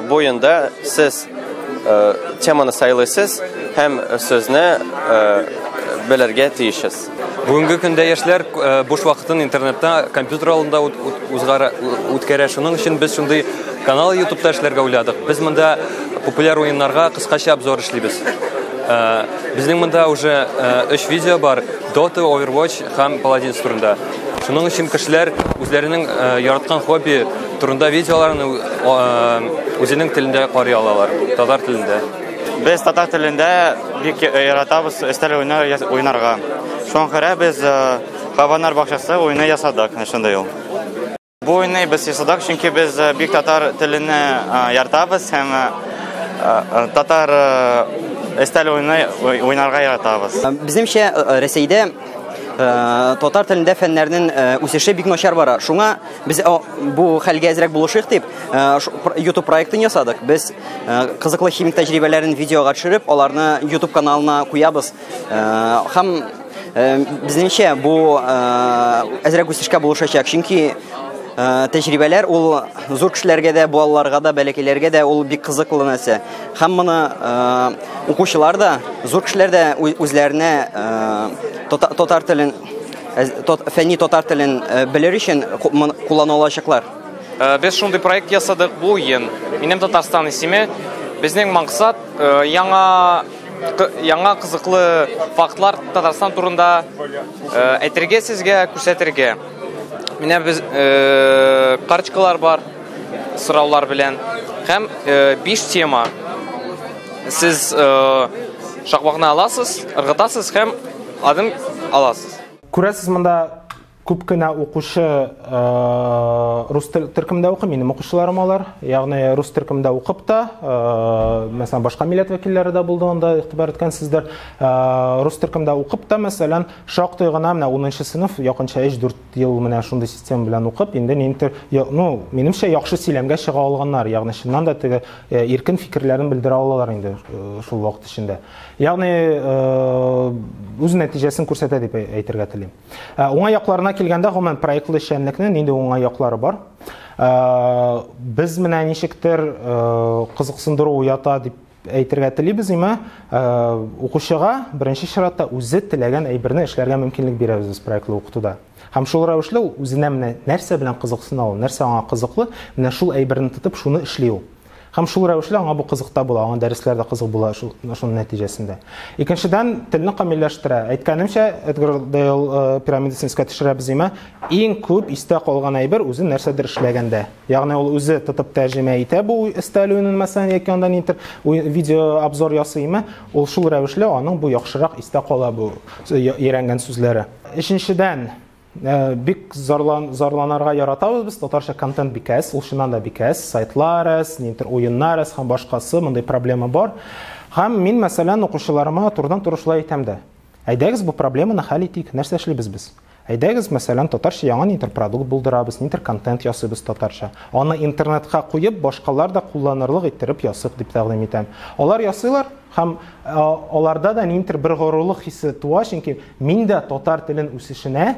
бу уенда сез теманы сайлыйсыз һәм сүзне белергә тиешсез. Бүгенге көндә яшьләр э, буш вакытын интернетта, компьютер алдында үткәрә. Шуның өчен без шундый канал ютубта эшләргә уйладык. Без монда популяр уеннарга кыскача обзор эшлибез. Э, безнең монда уже 3 э, видео бар. Dota, Overwatch һәм Paladins турында. Шуның өчен кешеләр үзләренең яраткан хобби турында видеоларын үзенең телендә карый алалар, татар телендә. Без татар телендә бик яратабыз өстәл уйны уйнарга. Шуңа күрә без Хаванар бакчасы уйны ясадык, шундый ул. Бу уйны без ясадык, чөнки без бик татар телен яратабыз һәм татар өстәл уйны уйнарга яратабыз. Безнеңчә Рәсәйдә татар телендә фәннәрнең үсеше бик начар бара. Шуңа Без бу хәлгә әзрәк булышыйк дип, YouTube проектын ясадык. Без кызыклы химик тәҗрибәләрен видеога төшереп, аларны YouTube каналына куябыз. Һәм безнеңчә бу әзрәк үсешкә булышачак, чөнки тәҗрибәләр ул зур кешеләргә дә, балаларга да, бәләкәйләргә дә ул бик кызыклы нәрсә. Һәм моны укучылар да, зур кешеләр дә үзләренә татар телен Фәнни татар телен белер өчен куллана алачаклар. Без шундый проект ясадык бу ен. Минем Татарстан исеме. Безнең максат яңа яңа кызыклы фактлар Татарстан турында әйтергә сезгә, күрсәтергә. Менә без карточкалар бар сораулар белән һәм биш тема. Сез шакмакны аласыз, ыргытасыз һәм Адым аласыз. Күрәсез, монда күп кенә укучы рус төркемдә укый, минем укучыларым алар. Ягъни рус төркемдә укып та, мәсәлән, башка милләт вәкилләре дә булды, анда игътибар иткәнсездер. Рус төркемдә укып та, мәсәлән, шактый гына менә 10 сыйныф, якынча 3-4 ел менә шундый система белән укып, инде ниндидер, ну, минемчә, яхшы сөйләмгә чыга алганнар. Ягъни чыннан да теге иркен фикерләрен белдерә алалар инде шул вакыт эчендә. Ягъни үз нәтиҗәсен күрсәтә дип әйтергә телим. Уңай якларына килгәндә, гомумән проектлы эшчәнлекнең нинди уңай яклары бар? Без менә ничектер кызыксындыру уята дип әйтергә телибез име укучыга беренче чиратта үзе теләгән әйберне эшләргә мөмкинлек бирәбез без проектлы укытуда һәм шул рәвешле ул үзенә менә нәрсә белән кызыксына ул нәрсә аңа кызыклы менә шул әйберне тотып шуны эшли ул Һәм шул рәвешле аңа бу кызык та була, аңа дәресләр дә кызык була шул, шуның нәтиҗәсендә. Икенчедән, телне камилләштерә. Әйткәнемчә, Эдгар Дейл э, пирамидасын искә төшерәбез димә, иң күп истә калган әйбер үзе нәрсәдер эшләгәндә. Ягъни ул үзе тотып тәрҗемә итә бу өстәл уенын мәсәлән яки анда нидер видео обзор ясыймы, ул шул рәвешле аның бу яхшырак истә кала бу өйрәнгән сүзләре. Өченчедән, Э, бик зарлан, зарланарга яратабыз без татарча контент бик әз ул чыннан да бик әз сайтлар әз ниндидер уеннар әз һәм башкасы мондый проблема бар һәм мин мәсәлән укучыларыма турыдан туры шулай әйтәм дә әйдәгез бу проблеманы хәл итик нәрсә эшлибез без әйдәгез мәсәлән татарча яңа ниндидер продукт булдырабыз ниндидер контент ясыйбыз татарча аны интернетка куеп башкалар да кулланырлык иттереп ясыйк дип тәкъдим итәм алар ясыйлар Һәм аларда да ниндидер бер горурлык хисе туа, чөнки мин дә татар телен үсешенә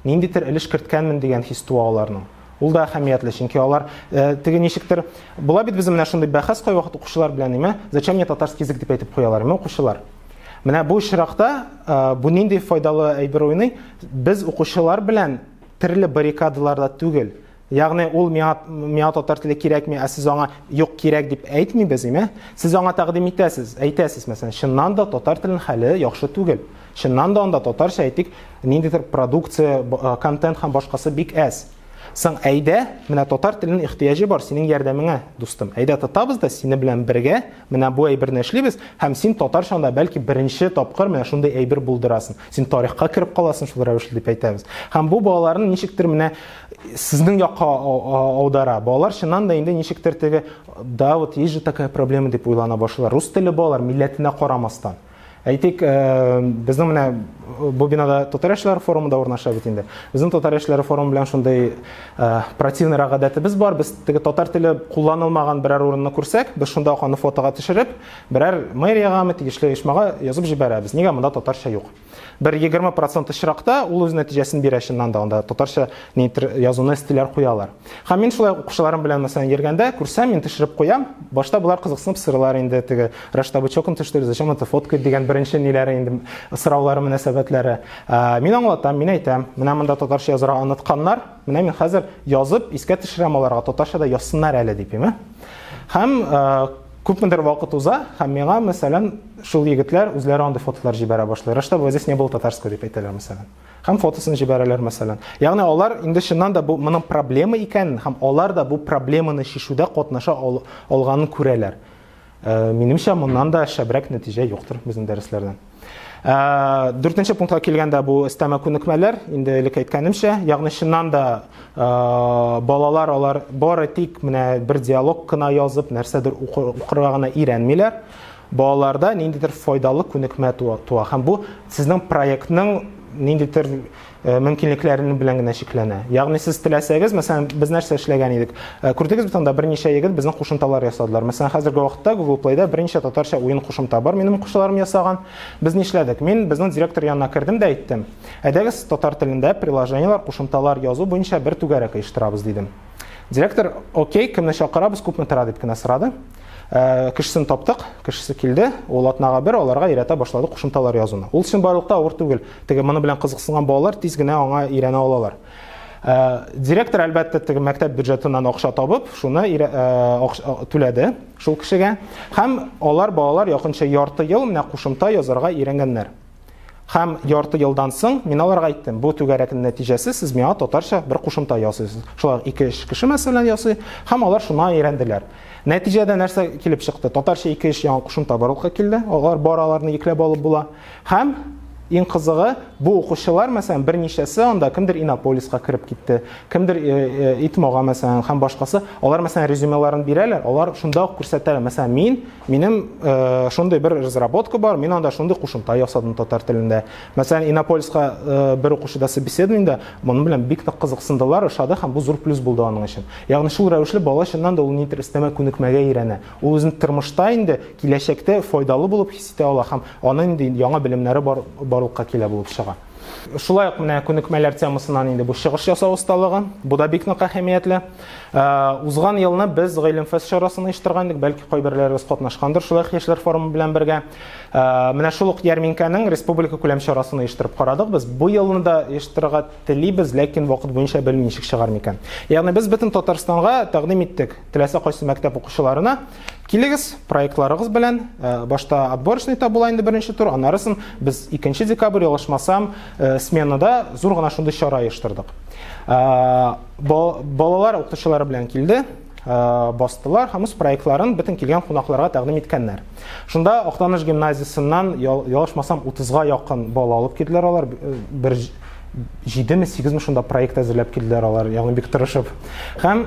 ниндидер өлеш керткәнмен дигән хис туа аларның. Ул да әһәмиятле, чөнки алар э, теге ничектер була бит безнең менә шундый бәхәс кайвакыт укучылар белән име, зачем мне татарский язык дип әйтеп куялар, име укучылар. Менә бу очракта э, бу нинди файдалы әйбер уйный? Без укучылар белән төрле баррикадаларда түгел, Ягъни ул миңа миңа татар теле кирәкми, ә сез аңа юк кирәк дип әйтмибез, име? Сез аңа тәкъдим итәсез, әйтәсез, мәсәлән, чыннан да татар телен хәле яхшы түгел. Чыннан да анда татарча әйтик, ниндидер продукция, э, контент һәм башкасы бик әз. Соң әйдә, менә татар телен ихтыяҗы бар синең ярдәмеңә, дустым. Әйдә тотабыз да сине белән бергә Менә бу әйберне эшлибез, һәм син татарчаңда бәлки беренче тапкыр менә шундый әйбер булдырасың. Син тарихка кереп каласың шул рәвешле дип әйтәбез. Һәм бу балаларны ничектер менә сезнең якка аудара. Балалар чыннан да инде ничектер теге да вот есть же такая проблема дип уйлана башлыйлар. Рус теле балалар милләтенә карамастан. Әйтик, безнең менә бу бинада татар яшьләр форумы да урнаша бит инде. Безнең татар яшьләре форумы белән шундый противный гадәтебез бар. Без теге татар теле кулланылмаган берәр урынны күрсәк, без шунда ук аны фотога төшереп, берәр мэриягәме, тиешле оешмага язып җибәрәбез. Нигә монда татарча юк? Бер 20% очракта ул үз нәтиҗәсен бирә чыннан да, анда татарча ниндидер язуны стиләр куялар. Һәм мин шулай укучыларым белән мәсәлән йөргәндә күрсәм, мин төшереп куям. Башта болар кызыксынып сырылар инде, теге Рашта бычокын төштереп, зачем это фоткать дигән беренче ниләре инде сораулары мөнәсәбәтләре. Ә, мин аңлатам, мин әйтәм, менә монда татарча язырга онытканнар, менә мин хәзер язып искә төшерәм аларга, татарча да язсыннар әле дип, ә? Һәм ә, күпмедер вакыт уза, һәм миңа мәсәлән шул егетләр үзләре андый фотолар җибәрә башлый. Рашта бу здесь не было татарского дип әйтәләр мәсәлән. Һәм фотосын җибәрәләр, мәсәлән. Ягъни алар инде чыннан да бу моның проблема икәнен һәм алар да бу проблеманы чишүдә катнаша ал, алганын күрәләр. Э, минемчә, моннан да шәбрәк нәтиҗә юктыр безнең дәресләрдән. Э, дүртенче пунктка килгәндә бу өстәмә күнекмәләр, инде элек әйткәнемчә, ягъни чыннан да э, балалар алар бары тик менә бер диалог кына язып, нәрсәдер укырга гына өйрәнмиләр. Балаларда ниндидер файдалы күнекмә туа һәм бу сезнең проектның ниндидер э, мөмкинлекләренең белән генә чикләнә. Ягъни сез теләсәгез, мәсәлән, без нәрсә эшләгән идек? Э, күрдегез бит анда берничә егет безнең кушымталар ясадылар. Мәсәлән, хәзерге вакытта Google Play-да берничә татарча уен кушымта бар, минем укучыларым ясаган. Без нишләдек? Мин безнең директор янына кердем дә әйттем, әйдәгез татар телендә приложениелар, кушымталар язу буенча бер түгәрәк оештырабыз дидем. Директор, окей, кемне чакырабыз, күпме тора дип кенә сорады. Ә, кешесен таптык, кешесе килде, ул атнага бер аларга өйрәтә башлады кушымталар язуны. Ул чынбарлыкта авыр түгел. Теге моны белән кызыксынган балалар тиз генә аңа өйрәнә алалар. Ә, директор әлбәттә теге мәктәп бюджетыннан акча табып, шуны ә, акча, түләде шул кешегә. Һәм алар балалар якынча ярты ел менә кушымта язарга өйрәнгәннәр. Һәм ярты елдан соң мин аларга әйттем, бу түгәрәкнең нәтиҗәсе сез миңа татарча бер кушымта ясыйсыз. Шулар ике эш кеше мәсәлән ясый, һәм алар шуна өйрәнделәр. Нәтиҗәдә нәрсә килеп чыкты? Татарча ике эш яңа кушымта барлыкка килде. Алар бар аларны икләп алып була. Һәм Иң кызыгы, бу укучылар, мәсәлән, берничәсе анда кемдер Иннополиска кереп китте, кемдер э, э, Итмога, мәсәлән, һәм башкасы. Алар, мәсәлән, резюмеларын бирәләр, алар шунда ук күрсәтәләр. Мәсәлән, мин Минем э, шундый бер разработка бар, мин анда шундый кушымта ясадым татар телендә. Мәсәлән, Инопольска э, бер укучыда собеседованиедә моның белән бик тә кызыксындылар, ошады һәм бу зур плюс булды аның өчен. Ягъни шул рәвешле бала чыннан да ул ни истәмә күнекмәгә өйрәнә. Ул үзен тормышта инде киләчәктә файдалы булып хис итә ала һәм аның инде яңа белемнәре бар, барлыкка килә булып чыга. Шулай ук менә күнекмәләр темасыннан инде бу чыгыш ясау осталыгы. Бу да бик нык әһәмиятле. Ә, узган елны без Гыйлемфест чарасын оештырган идек, бәлки кайберләрегез катнашкандыр шулай ук яшьләр форумы белән бергә. Ә, менә шул ук ярминкәнең республика күләм чарасын оештырып карадык без. Бу елны да оештырырга телибез, ләкин вакыт буенча белмим ничек чыгар микән. Ягъни без бөтен Татарстанга тәкъдим иттек, теләсә кайсы мәктәп укучыларына. Килегез, проектларыгыз белән. Э, башта отборочныйта була инде беренче тур, аннарысын без 2 декабрь ялгышмасам, э, сменада зур гына шундый чара оештырдык. Э, балалар укытучылары белән килде, бастылар һәм үз проектларын бөтен килгән кунакларга тәкъдим иткәннәр. Шунда Актаныш гимназиясеннән ялгышмасам 30-га якын бала алып килделәр алар бер җидеме сигезме шунда проект әзерләп килделәр алар ягъни бик тырышып һәм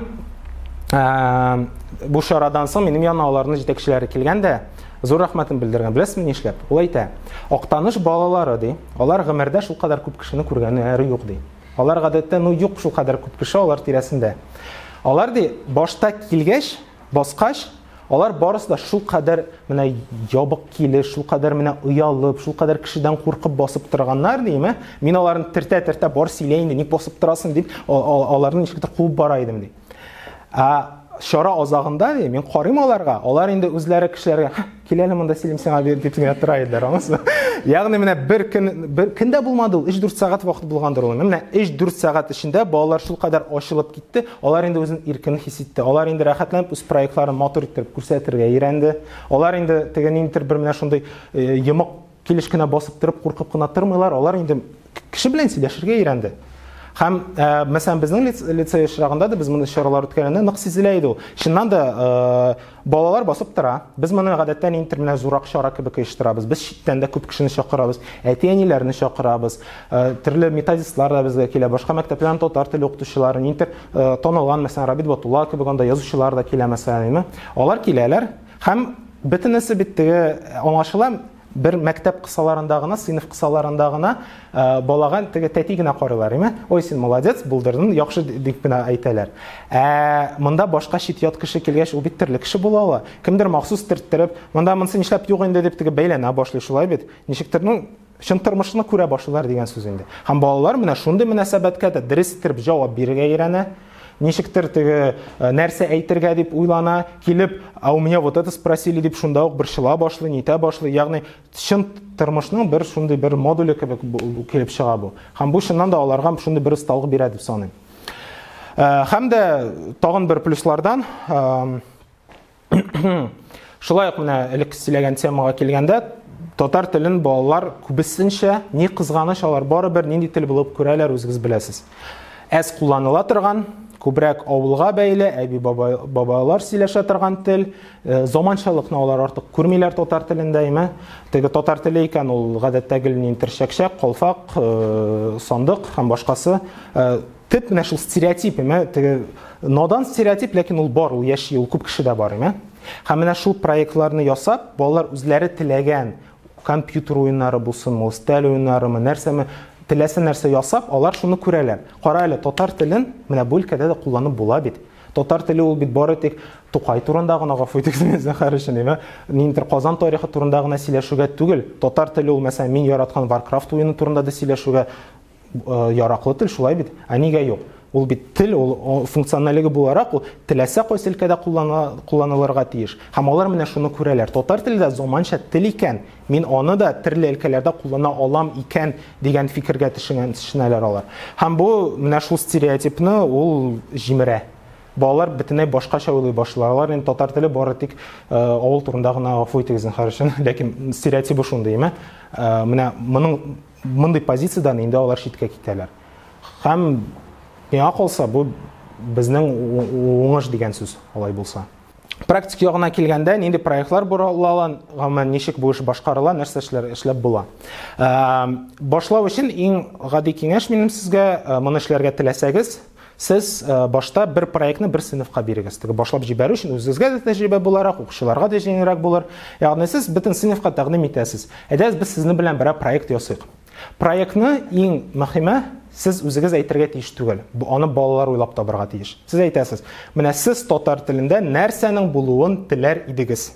ә, бу чарадан соң минем янына аларның җитәкчеләре килгән дә зур рәхмәтен белдергән беләсезме нишләп ул әйтә актаныш балалары ди алар гомердә шулкадәр күп кешене күргәннәре юк ди алар гадәттә ну юк шулкадәр күп кеше алар тирәсендә алар ди башта килгәч баскач, алар барысы да шул кадәр менә ябык килеш, шул кадәр менә оялып, шул кадәр кешедән куркып басып торганнар, дим, ә? Мин аларны тертә-тертә бар сөйлә инде, ник басып торасың дип, аларны ничектер куып бара идем, ди. Ә чара азагында, ди, мин карыйм аларга, алар инде үзләре кешеләргә Кил әле монда сөйлим сиңа бир дип генә тора иделәр, аңласызмы? Ягъни менә бер көн бер көндә булмады ул, 3-4 сәгать вакыт булгандыр ул. Менә 3-4 сәгать эчендә балалар шул кадәр ачылып китте, алар инде үзен иркен хис итте. Алар инде рәхәтләнеп үз проектларын матур итеп күрсәтергә өйрәнде. Алар инде теге ниндидер бер менә шундый э, йомык Килеш кенә басып торып, куркып кына тормыйлар, алар инде кеше белән сөйләшергә өйрәнде. Һәм, ә, мәсәлән, безнең лицей очрагында да без моны чаралар үткәргәндә нык сизелә иде ул. Чыннан да, ә, балалар басып тора. Без моны гадәттә нинтер менә зурак чара кебек оештырабыз. Без читтән дә күп кешене чакырабыз, әти-әниләрне чакырабыз. Ә, төрле методистлар да безгә килә, башка мәктәпләрнең татар теле укытучылары, нинтер, ә, танылган, мәсәлән, Рабит Батулла кебек анда язучылар да килә, мәсәлән, әйме. Алар киләләр. Һәм бөтенесе бит теге аңлашыла, бер мәктәп кысаларында гына, сыйныф кысаларында гына балага теге тәти генә карыйлар, име? Ой, син молодец, булдырдың, яхшы дип генә әйтәләр. Ә монда башка чит-ят кеше килгәч, ул бит төрле кеше була ала. Кемдер махсус төрттереп, монда монсы нишләп юк инде дип теге бәйләнә башлый, шулай бит. Ничектер, ну, чын тормышны күрә башлыйлар дигән сүз инде. Һәм балалар менә шундый мөнәсәбәткә дә дөрес итеп җавап бирергә өйрәнә. Ничектер теге э, нәрсә әйтергә дип уйлана, килеп, а у меня вот это спросили дип шунда ук борчыла башлый, нитә башлый. Ягъни чын тормышның бер шундый бер модуле кебек килеп чыга бу. Һәм бу чыннан да аларга шундый бер осталык бирә дип саныйм. Э, һәм дә тагын бер плюслардан э, Шулай ук менә элек сөйләгән темага килгәндә, татар телен балалар күбесенчә ни кызганыч алар барыбер нинди тел булып күрәләр үзегез беләсез. Әз кулланыла торган, күбрәк авылга бәйле, әби бабайлар сөйләшә торган тел, э, заманчалыкны алар артык күрмиләр татар телендә, әйме? Теге татар теле икән ул гадәттә гел нин терчәкчәк, колфак, э, сандык һәм башкасы. Э, Төп менә шул стереотип, имә, теге надан стереотип, ләкин ул бар, ул яши, ул күп кешедә бар, имә. Һәм менә шул проектларны ясап, балалар үзләре теләгән компьютер уеннары булсын, мостель уеннарымы, нәрсәме, теләсә нәрсә ясап, алар шуны күрәләр. Кара әле, татар телен менә бу өлкәдә дә кулланып була бит. Татар теле ул бит бары тик Тукай турында гына гафу итегез мине зәһәр өчен, әйме? Ниндидер Казан тарихы турында гына сөйләшүгә түгел. Татар теле ул, мәсәлән, мин яраткан Warcraft уены турында да сөйләшүгә яраклы тел шулай бит. Ә нигә юк? Ул бит тел, ул функционаллеге буларак ул теләсә кайсы өлкәдә кулланылырга тиеш. Һәм алар менә шуны күрәләр. Татар теле дә заманча тел икән, мин аны да төрле өлкәләрдә куллана алам икән дигән фикергә төшенгән төшенәләр алар. Һәм бу менә шул стереотипны ул җимерә. Балалар бөтенләй башкача уйлый башлыйлар. Инде татар теле бары тик э, авыл турында гына гафу итегез зинһар өчен, ләкин стереотибы шундый, әмма э, менә моның Мондый позициядән инде алар читкә китәләр. Һәм миңа калса, бу безнең уңыш дигән сүз алай булса. Практик ягына килгәндә, нинди проектлар боралала, гомумән ничек бу эш башкарыла, нәрсә эшләр эшләп була. Башлау өчен иң гади киңәш минем сезгә, моны эшләргә теләсәгез, Сез башта бер проектны бер сыйныфка бирегез. Теге башлап җибәрү өчен үзегезгә дә тәҗрибә буларак, укучыларга да җиңелрәк булыр. Ягъни сез бөтен сыйныфка тәкъдим итәсез. Әйдәгез без сезнең белән берәр проект ясыйк. Проектны иң мөһиме сез үзегез әйтергә тиеш түгел. Аны балалар уйлап табарга тиеш. Сез әйтәсез, менә сез татар телендә нәрсәнең булуын теләр идегез?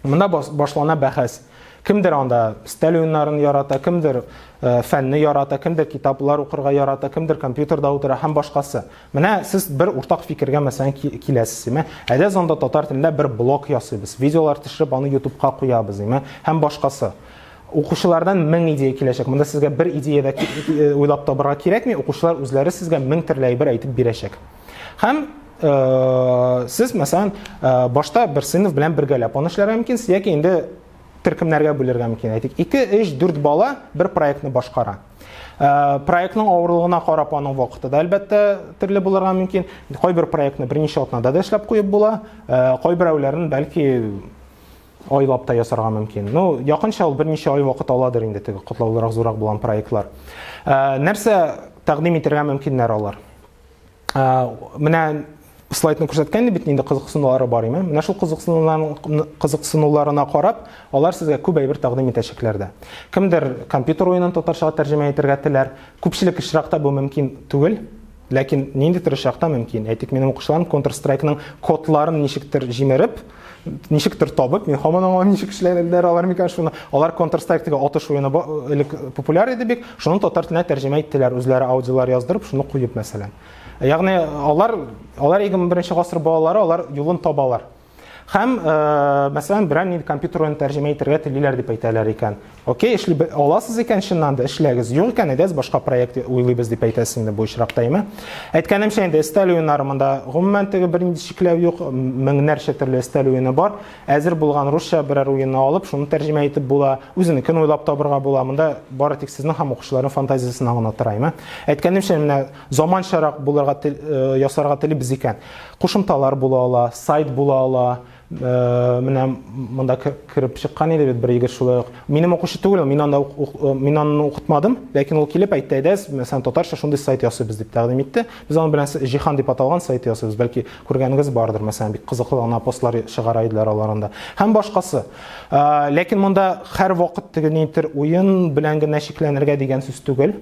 Монда башлана бәхәс. Кемдер анда стәл уеннарын ярата, кемдер э, фәнне ярата, кемдер китаплар укырга ярата, кемдер компьютерда утыра һәм башкасы. Менә сез бер уртак фикергә мәсәлән киләсез, имә. Әдә зонда татар телендә бер блок ясыйбыз. Видеолар төшереп аны YouTubeга куябыз, имә, һәм башкасы. Укучылардан 1000 идея киләчәк. Монда сезгә бер идея дә э, уйлап табырга кирәкми, укучылар үзләре сезгә 1000 төрле әйбер әйтеп бирәчәк. Һәм э, сез, мәсәлән, э, башта бер сыйныф белән бергәләп аны эшләргә мөмкин, яки инде төркемнәргә бүлергә мөмкин. Әйтик, 2, 3, 4 бала бер проектны башкара. Э, проектның авырлыгына карап аның вакыты да әлбәттә төрле булырга мөмкин. Кайбер проектны берничә атнада да эшләп куеп була, э, кайберәүләрен бәлки айлап та ясарга мөмкин. Ну, якынча ул берничә ай вакыт аладыр инде теге котлаулырак, зурак булган проектлар. Э, нәрсә тәкъдим итәргә мөмкиннәр алар? Менә слайдны күрсәткән бит инде кызыксынулары бар име менә шул кызыксынуларына карап алар сезгә күп әйбер тәкъдим итәчәкләр дә кемдер компьютер уенын татарчага тәрҗемә итәргә теләр күпчелек очракта бу мөмкин түгел ләкин ниндидер очракта мөмкин әйтик минем укучыларым контр страйкның кодларын ничектер җимереп ничектер табып, мин һаман аңламыйм ничек эшләгәннәр алар микән шуны. Алар Counter Strike дигән атыш уены элек популяр иде бик, шуны татар теленә тәрҗемә иттеләр, үзләре аудиолар яздырып, шуны куеп мәсәлән. Ягъни алар алар 21 гасыр балалары, алар юлын табалар. Һәм, мәсәлән, берәр нинди компьютер уен тәрҗемә итәргә телиләр дип әйтәләр икән. Окей, эшли аласыз икән, чыннан да эшләгез. Юк икән, әйдәгез башка проект уйлыйбыз дип әйтәсез инде бу очракта, әйме? Әйткәнемчә инде өстәл уеннары монда гомумән теге бернинди чикләү юк, меңнәрчә төрле өстәл уены бар. Әзер булган русча берәр уенны алып, шуны тәрҗемә итеп була, үзенекен уйлап табырга була. Монда бары тик сезнең һәм укучыларның фантазиясенә гына тора, әйме? Әйткәнемчә, менә заманчарак булырга э, ясарга телибез икән. Кушымталар була ала, сайт була ала, Э, менә монда кереп чыккан иде бит бер егет шулай ук минем укучы түгел мин анда э, мин аны укытмадым ләкин ул килеп әйтте әйдә мәсәлән татарча шундый сайт ясыйбыз дип тәкъдим итте без аның белән җиһан дип аталган сайт ясыйбыз бәлки күргәнегез бардыр мәсәлән бик кызыклы гына постлар чыгара иделәр алар анда һәм башкасы э, ләкин монда һәрвакыт теге нитер уен белән генә чикләнергә дигән сүз түгел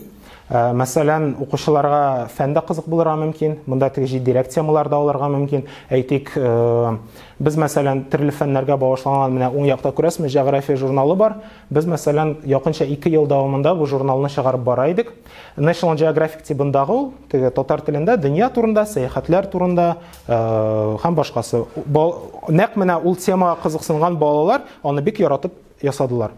Ә, мәсәлән, укучыларга фән дә кызык булырга мөмкин, монда теге җитдирәк темалар да алырга мөмкин. Әйтик, ә, без, мәсәлән, төрле фәннәргә багышланган менә уң якта күрәсезме, җәгърафия журналы бар. Без, мәсәлән, якынча 2 ел дәвамында бу журналны чыгарып бара идек. National Geographic тибындагы ул, теге татар телендә дөнья турында, сәяхәтләр турында, ә, һәм башкасы. Нәкъ менә ул темага кызыксынган балалар аны бик яратып ясадылар.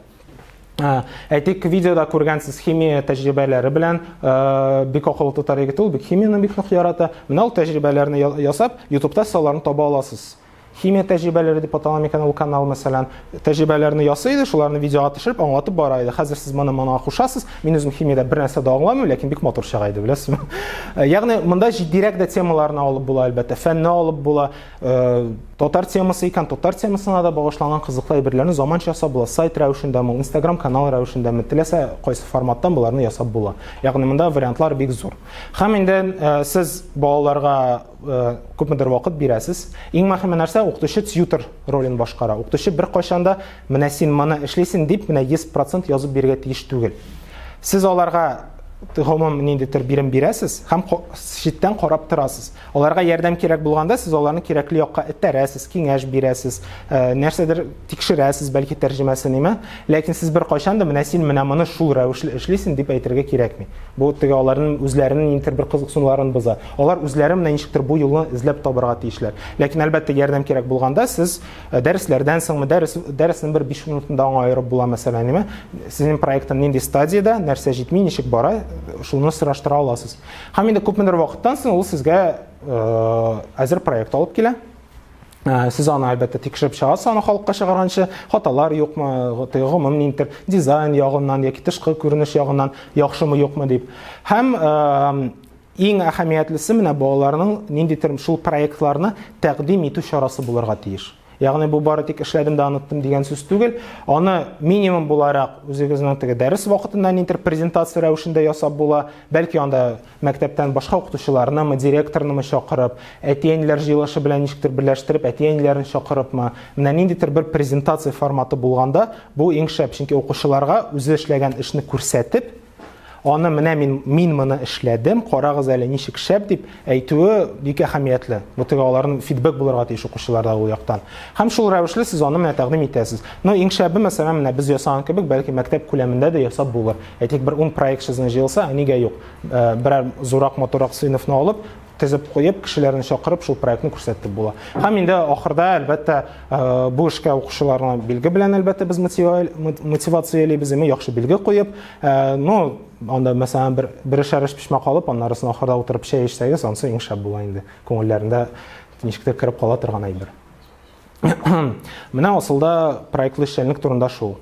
Ә, әйтик, видеода күргәнсез химия тәҗрибәләре белән ә, бик акыллы татар егете ул, бик химияне бик нык ярата. Менә ул тәҗрибәләрне ясап, ютубта сез аларны таба аласыз. Химия тәҗрибәләре дип атала микән ул канал, мәсәлән, тәҗрибәләрне ясый иде, шуларны видеога төшереп, аңлатып бара иде. Хәзер сез моны моңа кушасыз. Мин үзем химиядә бер нәрсә дә аңламыйм, ләкин бик матур чыга иде, беләсезме? Ягъни, монда җитдирәк дә темаларны алып була, әлбәттә, фәнне алып була. Татар темасы икән, татар темасына да багышланган кызыклы әйберләрне заманча ясап була. Сайт рәвешендәме, Instagram канал рәвешендәме, теләсә кайсы форматтан боларны ясап була. Ягъни монда вариантлар бик зур. Һәм инде э, сез балаларга э, күпмедер вакыт бирәсез. Иң мөһиме нәрсә, укытучы тьютер ролен башкара. Укытучы бер кайчан да менә син моны эшлисең дип менә 100% язып бирергә тиеш түгел. Сез аларга гомум ниндидер бирем бирәсез һәм читтән карап торасыз. Аларга ярдәм кирәк булганда, сез аларны кирәкле якка этәрәсез, киңәш бирәсез, э, нәрсәдер тикшерәсез, бәлки тәрҗемәсе ниме. Ләкин сез бер кайчан да менә син менә моны шул рәвешле эшлисең дип әйтергә кирәкми. Бу теге аларның үзләренең нидер бер кызыксынуларын боза. Алар үзләре менә ничектер бу юлны эзләп табарга тиешләр. Ләкин әлбәттә ярдәм кирәк булганда, сез э, дәресләрдән соңмы, дәрес дәресен бер 5 минутында аңа аерып була мәсәлән, ниме? Сезнең проектың нинди стадиядә, нәрсә җитми, ничек бара, шуны сораштыра аласыз. Һәм инде күпмедер вакыттан соң ул сезгә әзер проект алып килә. Сез аны әлбәттә тикшереп чыгасыз, аны халыкка чыгарганчы хаталар юкмы, гомум нинтер дизайн ягыннан яки тышкы күренеш ягыннан яхшымы юкмы дип. Һәм иң әһәмиятлесе менә балаларның ниндидер шул проектларны тәкъдим итү чарасы булырга тиеш. Ягъни бу бары тик эшләдем дә оныттым дигән сүз түгел. Аны минимум буларак үзегезнең теге дәрес вакытында нидер презентация рәвешендә ясап була. Бәлки анда мәктәптән башка укытучыларнымы, директорнымы чакырып, әти-әниләр җыелышы белән ничектер берләштереп, әти-әниләрен чакырыпмы. Менә ниндидер бер презентация форматы булганда, бу иң шәп, чөнки укучыларга үзе эшләгән эшне күрсәтеп, Аны менә мин, мин моны эшләдем, карагыз әле ничек шәп дип әйтүе бик әһәмиятле. Бу теге аларның фидбэк булырга тиеш укучыларда ул яктан. Һәм шул рәвешле сез аны менә тәкъдим итәсез. Но иң шәбе мәсәлән менә без ясаган кебек, бәлки мәктәп күләмендә дә ясап булыр. Әйтик бер 10 проект сезнең җыелса, ә нигә юк? Э, берәр зурак моторак сыйныфны алып, тезеп куеп, кешеләрне чакырып, шул проектны күрсәтеп була. Һәм инде ахырда, әлбәттә, э, бу эшкә укучыларны билге белән, әлбәттә, без мотивациялибез, яме яхшы билге куеп, э, ну, анда, мәсәлән, бер, бер эшәр эш пешмәк алып, аннарысын ахырда утырып чәй эчсәгез, ансы иң шәп була инде. Күңелләрендә ничектер кереп кала торган әйбер. Менә асылда проектлы эшчәнлек турында шул.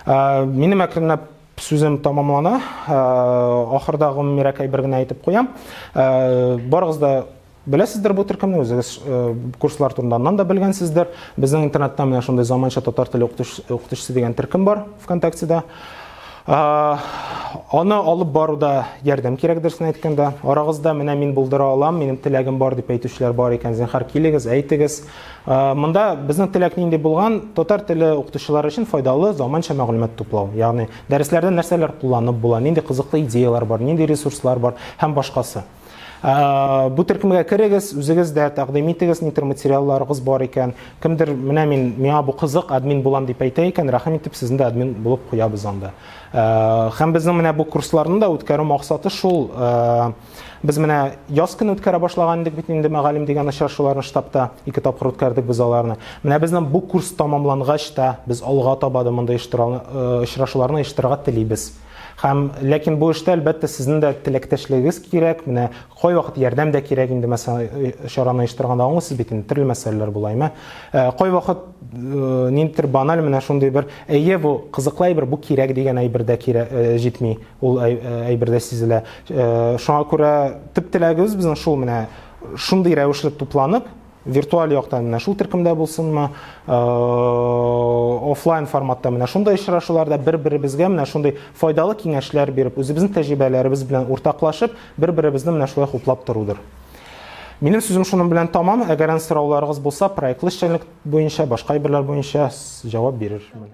Э, минем әкренләп Сүзем тамамлана. Ахырда гомумирәкәй бер генә әйтеп куям. Барыгыз да беләсездер бу төркемне, үзегез курслар турында аннан да белгәнсездер. Безнең интернетта менә шундый заманча татар теле укытучысы дигән төркем бар ВКонтактеда. Аны алып баруда ярдәм кирәк дөресен әйткәндә. Арагызда менә мин булдыра алам, минем теләгем бар дип әйтүчеләр бар икән, зинһар килегез, әйтегез. Монда безнең теләк нинди булган? Татар теле укытучылары өчен файдалы заманча мәгълүмат туплау. Ягъни дәресләрдә нәрсәләр кулланып була, нинди кызыклы идеяләр бар, нинди ресурслар бар һәм башкасы. Бу төркемгә керегез, үзегез дә тәкъдим итегез, нитер материалларыгыз бар икән. Кемдер менә мин миңа бу кызык, админ булам дип әйтә икән, рәхим итеп сезне дә админ булып куябыз анда. Һәм безнең менә бу курсларны да үткәрү максаты шул, Без менә яз көне үткәрә башлаган идек бит инде мәгалим дигән очрашуларны штабта ике тапкыр үткәрдек без аларны. Менә безнең бу курс тәмамлангач та без алга таба да мондый э, очрашуларны оештырырга телибез. Һәм ләкин бу эштә әлбәттә сезнең дә теләктәшлегегез кирәк. Менә кайвакыт ярдәм дә кирәк инде мәсәлән э, чараны оештырганда аңлыйсыз бит инде төрле мәсьәләләр була әмма э, кайвакыт ниндидер баналь менә шундый бер әйе бу кызыклы әйбер бу кирәк дигән әйбер дә кирәк җитми. Ул әйбердә сизелә. Шуңа күрә төп теләгебез безнең шул менә шундый рәвешле тупланып, виртуаль яктан менә шул төркемдә булсынмы, офлайн форматта менә шундый очрашуларда бер-беребезгә менә шундый файдалы киңәшләр биреп, үзебезнең тәҗрибәләребез белән уртаклашып, бер-беребезне менә шулай хуплап торудыр. Минем сүзем шуның белән тамам. Әгәр сорауларыгыз булса, проектлы эшчәнлек буенча, башка әйберләр буенча җавап бирермен.